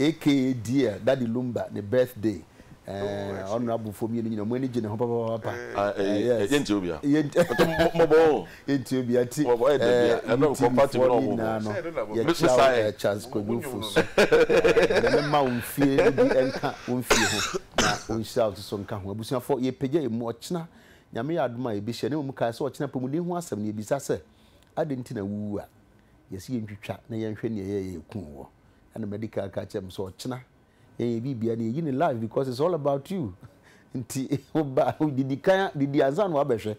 Aka dear daddy lumba ne birthday eh honourable foɔ mmienu nyina ɔmo ani gye ne ho papapapa eh yes yɛntie obia mɔbɔ oo yɛntie obia ti eh UTV foɔ ne nyinaa no yɛkyia wo eh Charles Kwadu Ofosu eh nyame mma wo mfie no bi nka wo mfie ho na ɔnhyira wo soso nka ho abusuafoɔ yɛpagya yɛ mu ɔkyena nyame yɛ adom a yɛbɛhyia na mmom kae sɛ ɔkyena apɔmuden ho asɛm no yɛbisa sɛ adɛn nti na wo wu a yɛse yɛntwitwa na yɛnhwɛ nea ɛyɛɛ yɛ yɛkuu woɔ ɛna medical ka kyerɛ me sɛ ɔkyena yɛyɛ biribia na yɛyi ne life because it's all about you nti woba didi kan didi ansa na wabɛhwɛ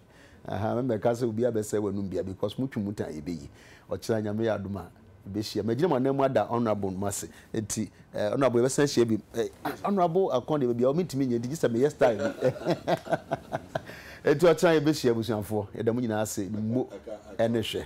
aha mɛmɛka sɛ obi abɛsɛ w'anum bia because motwe mu tan yɛbɛyi ɔkyena nyame yɛ adom a bɛhyia magyina mu anan mu ada honorable no ase nti eh, honorable yɛbɛsan ahyia bi eh, honorable akɔn deɛ baabiaa ɔmentumi nyɛ nti gye sɛ meyɛ style bi nti ɔkyena yɛbɛhyia abusuafoɔ yɛda mu nyinaa ase mo ɛne hwɛ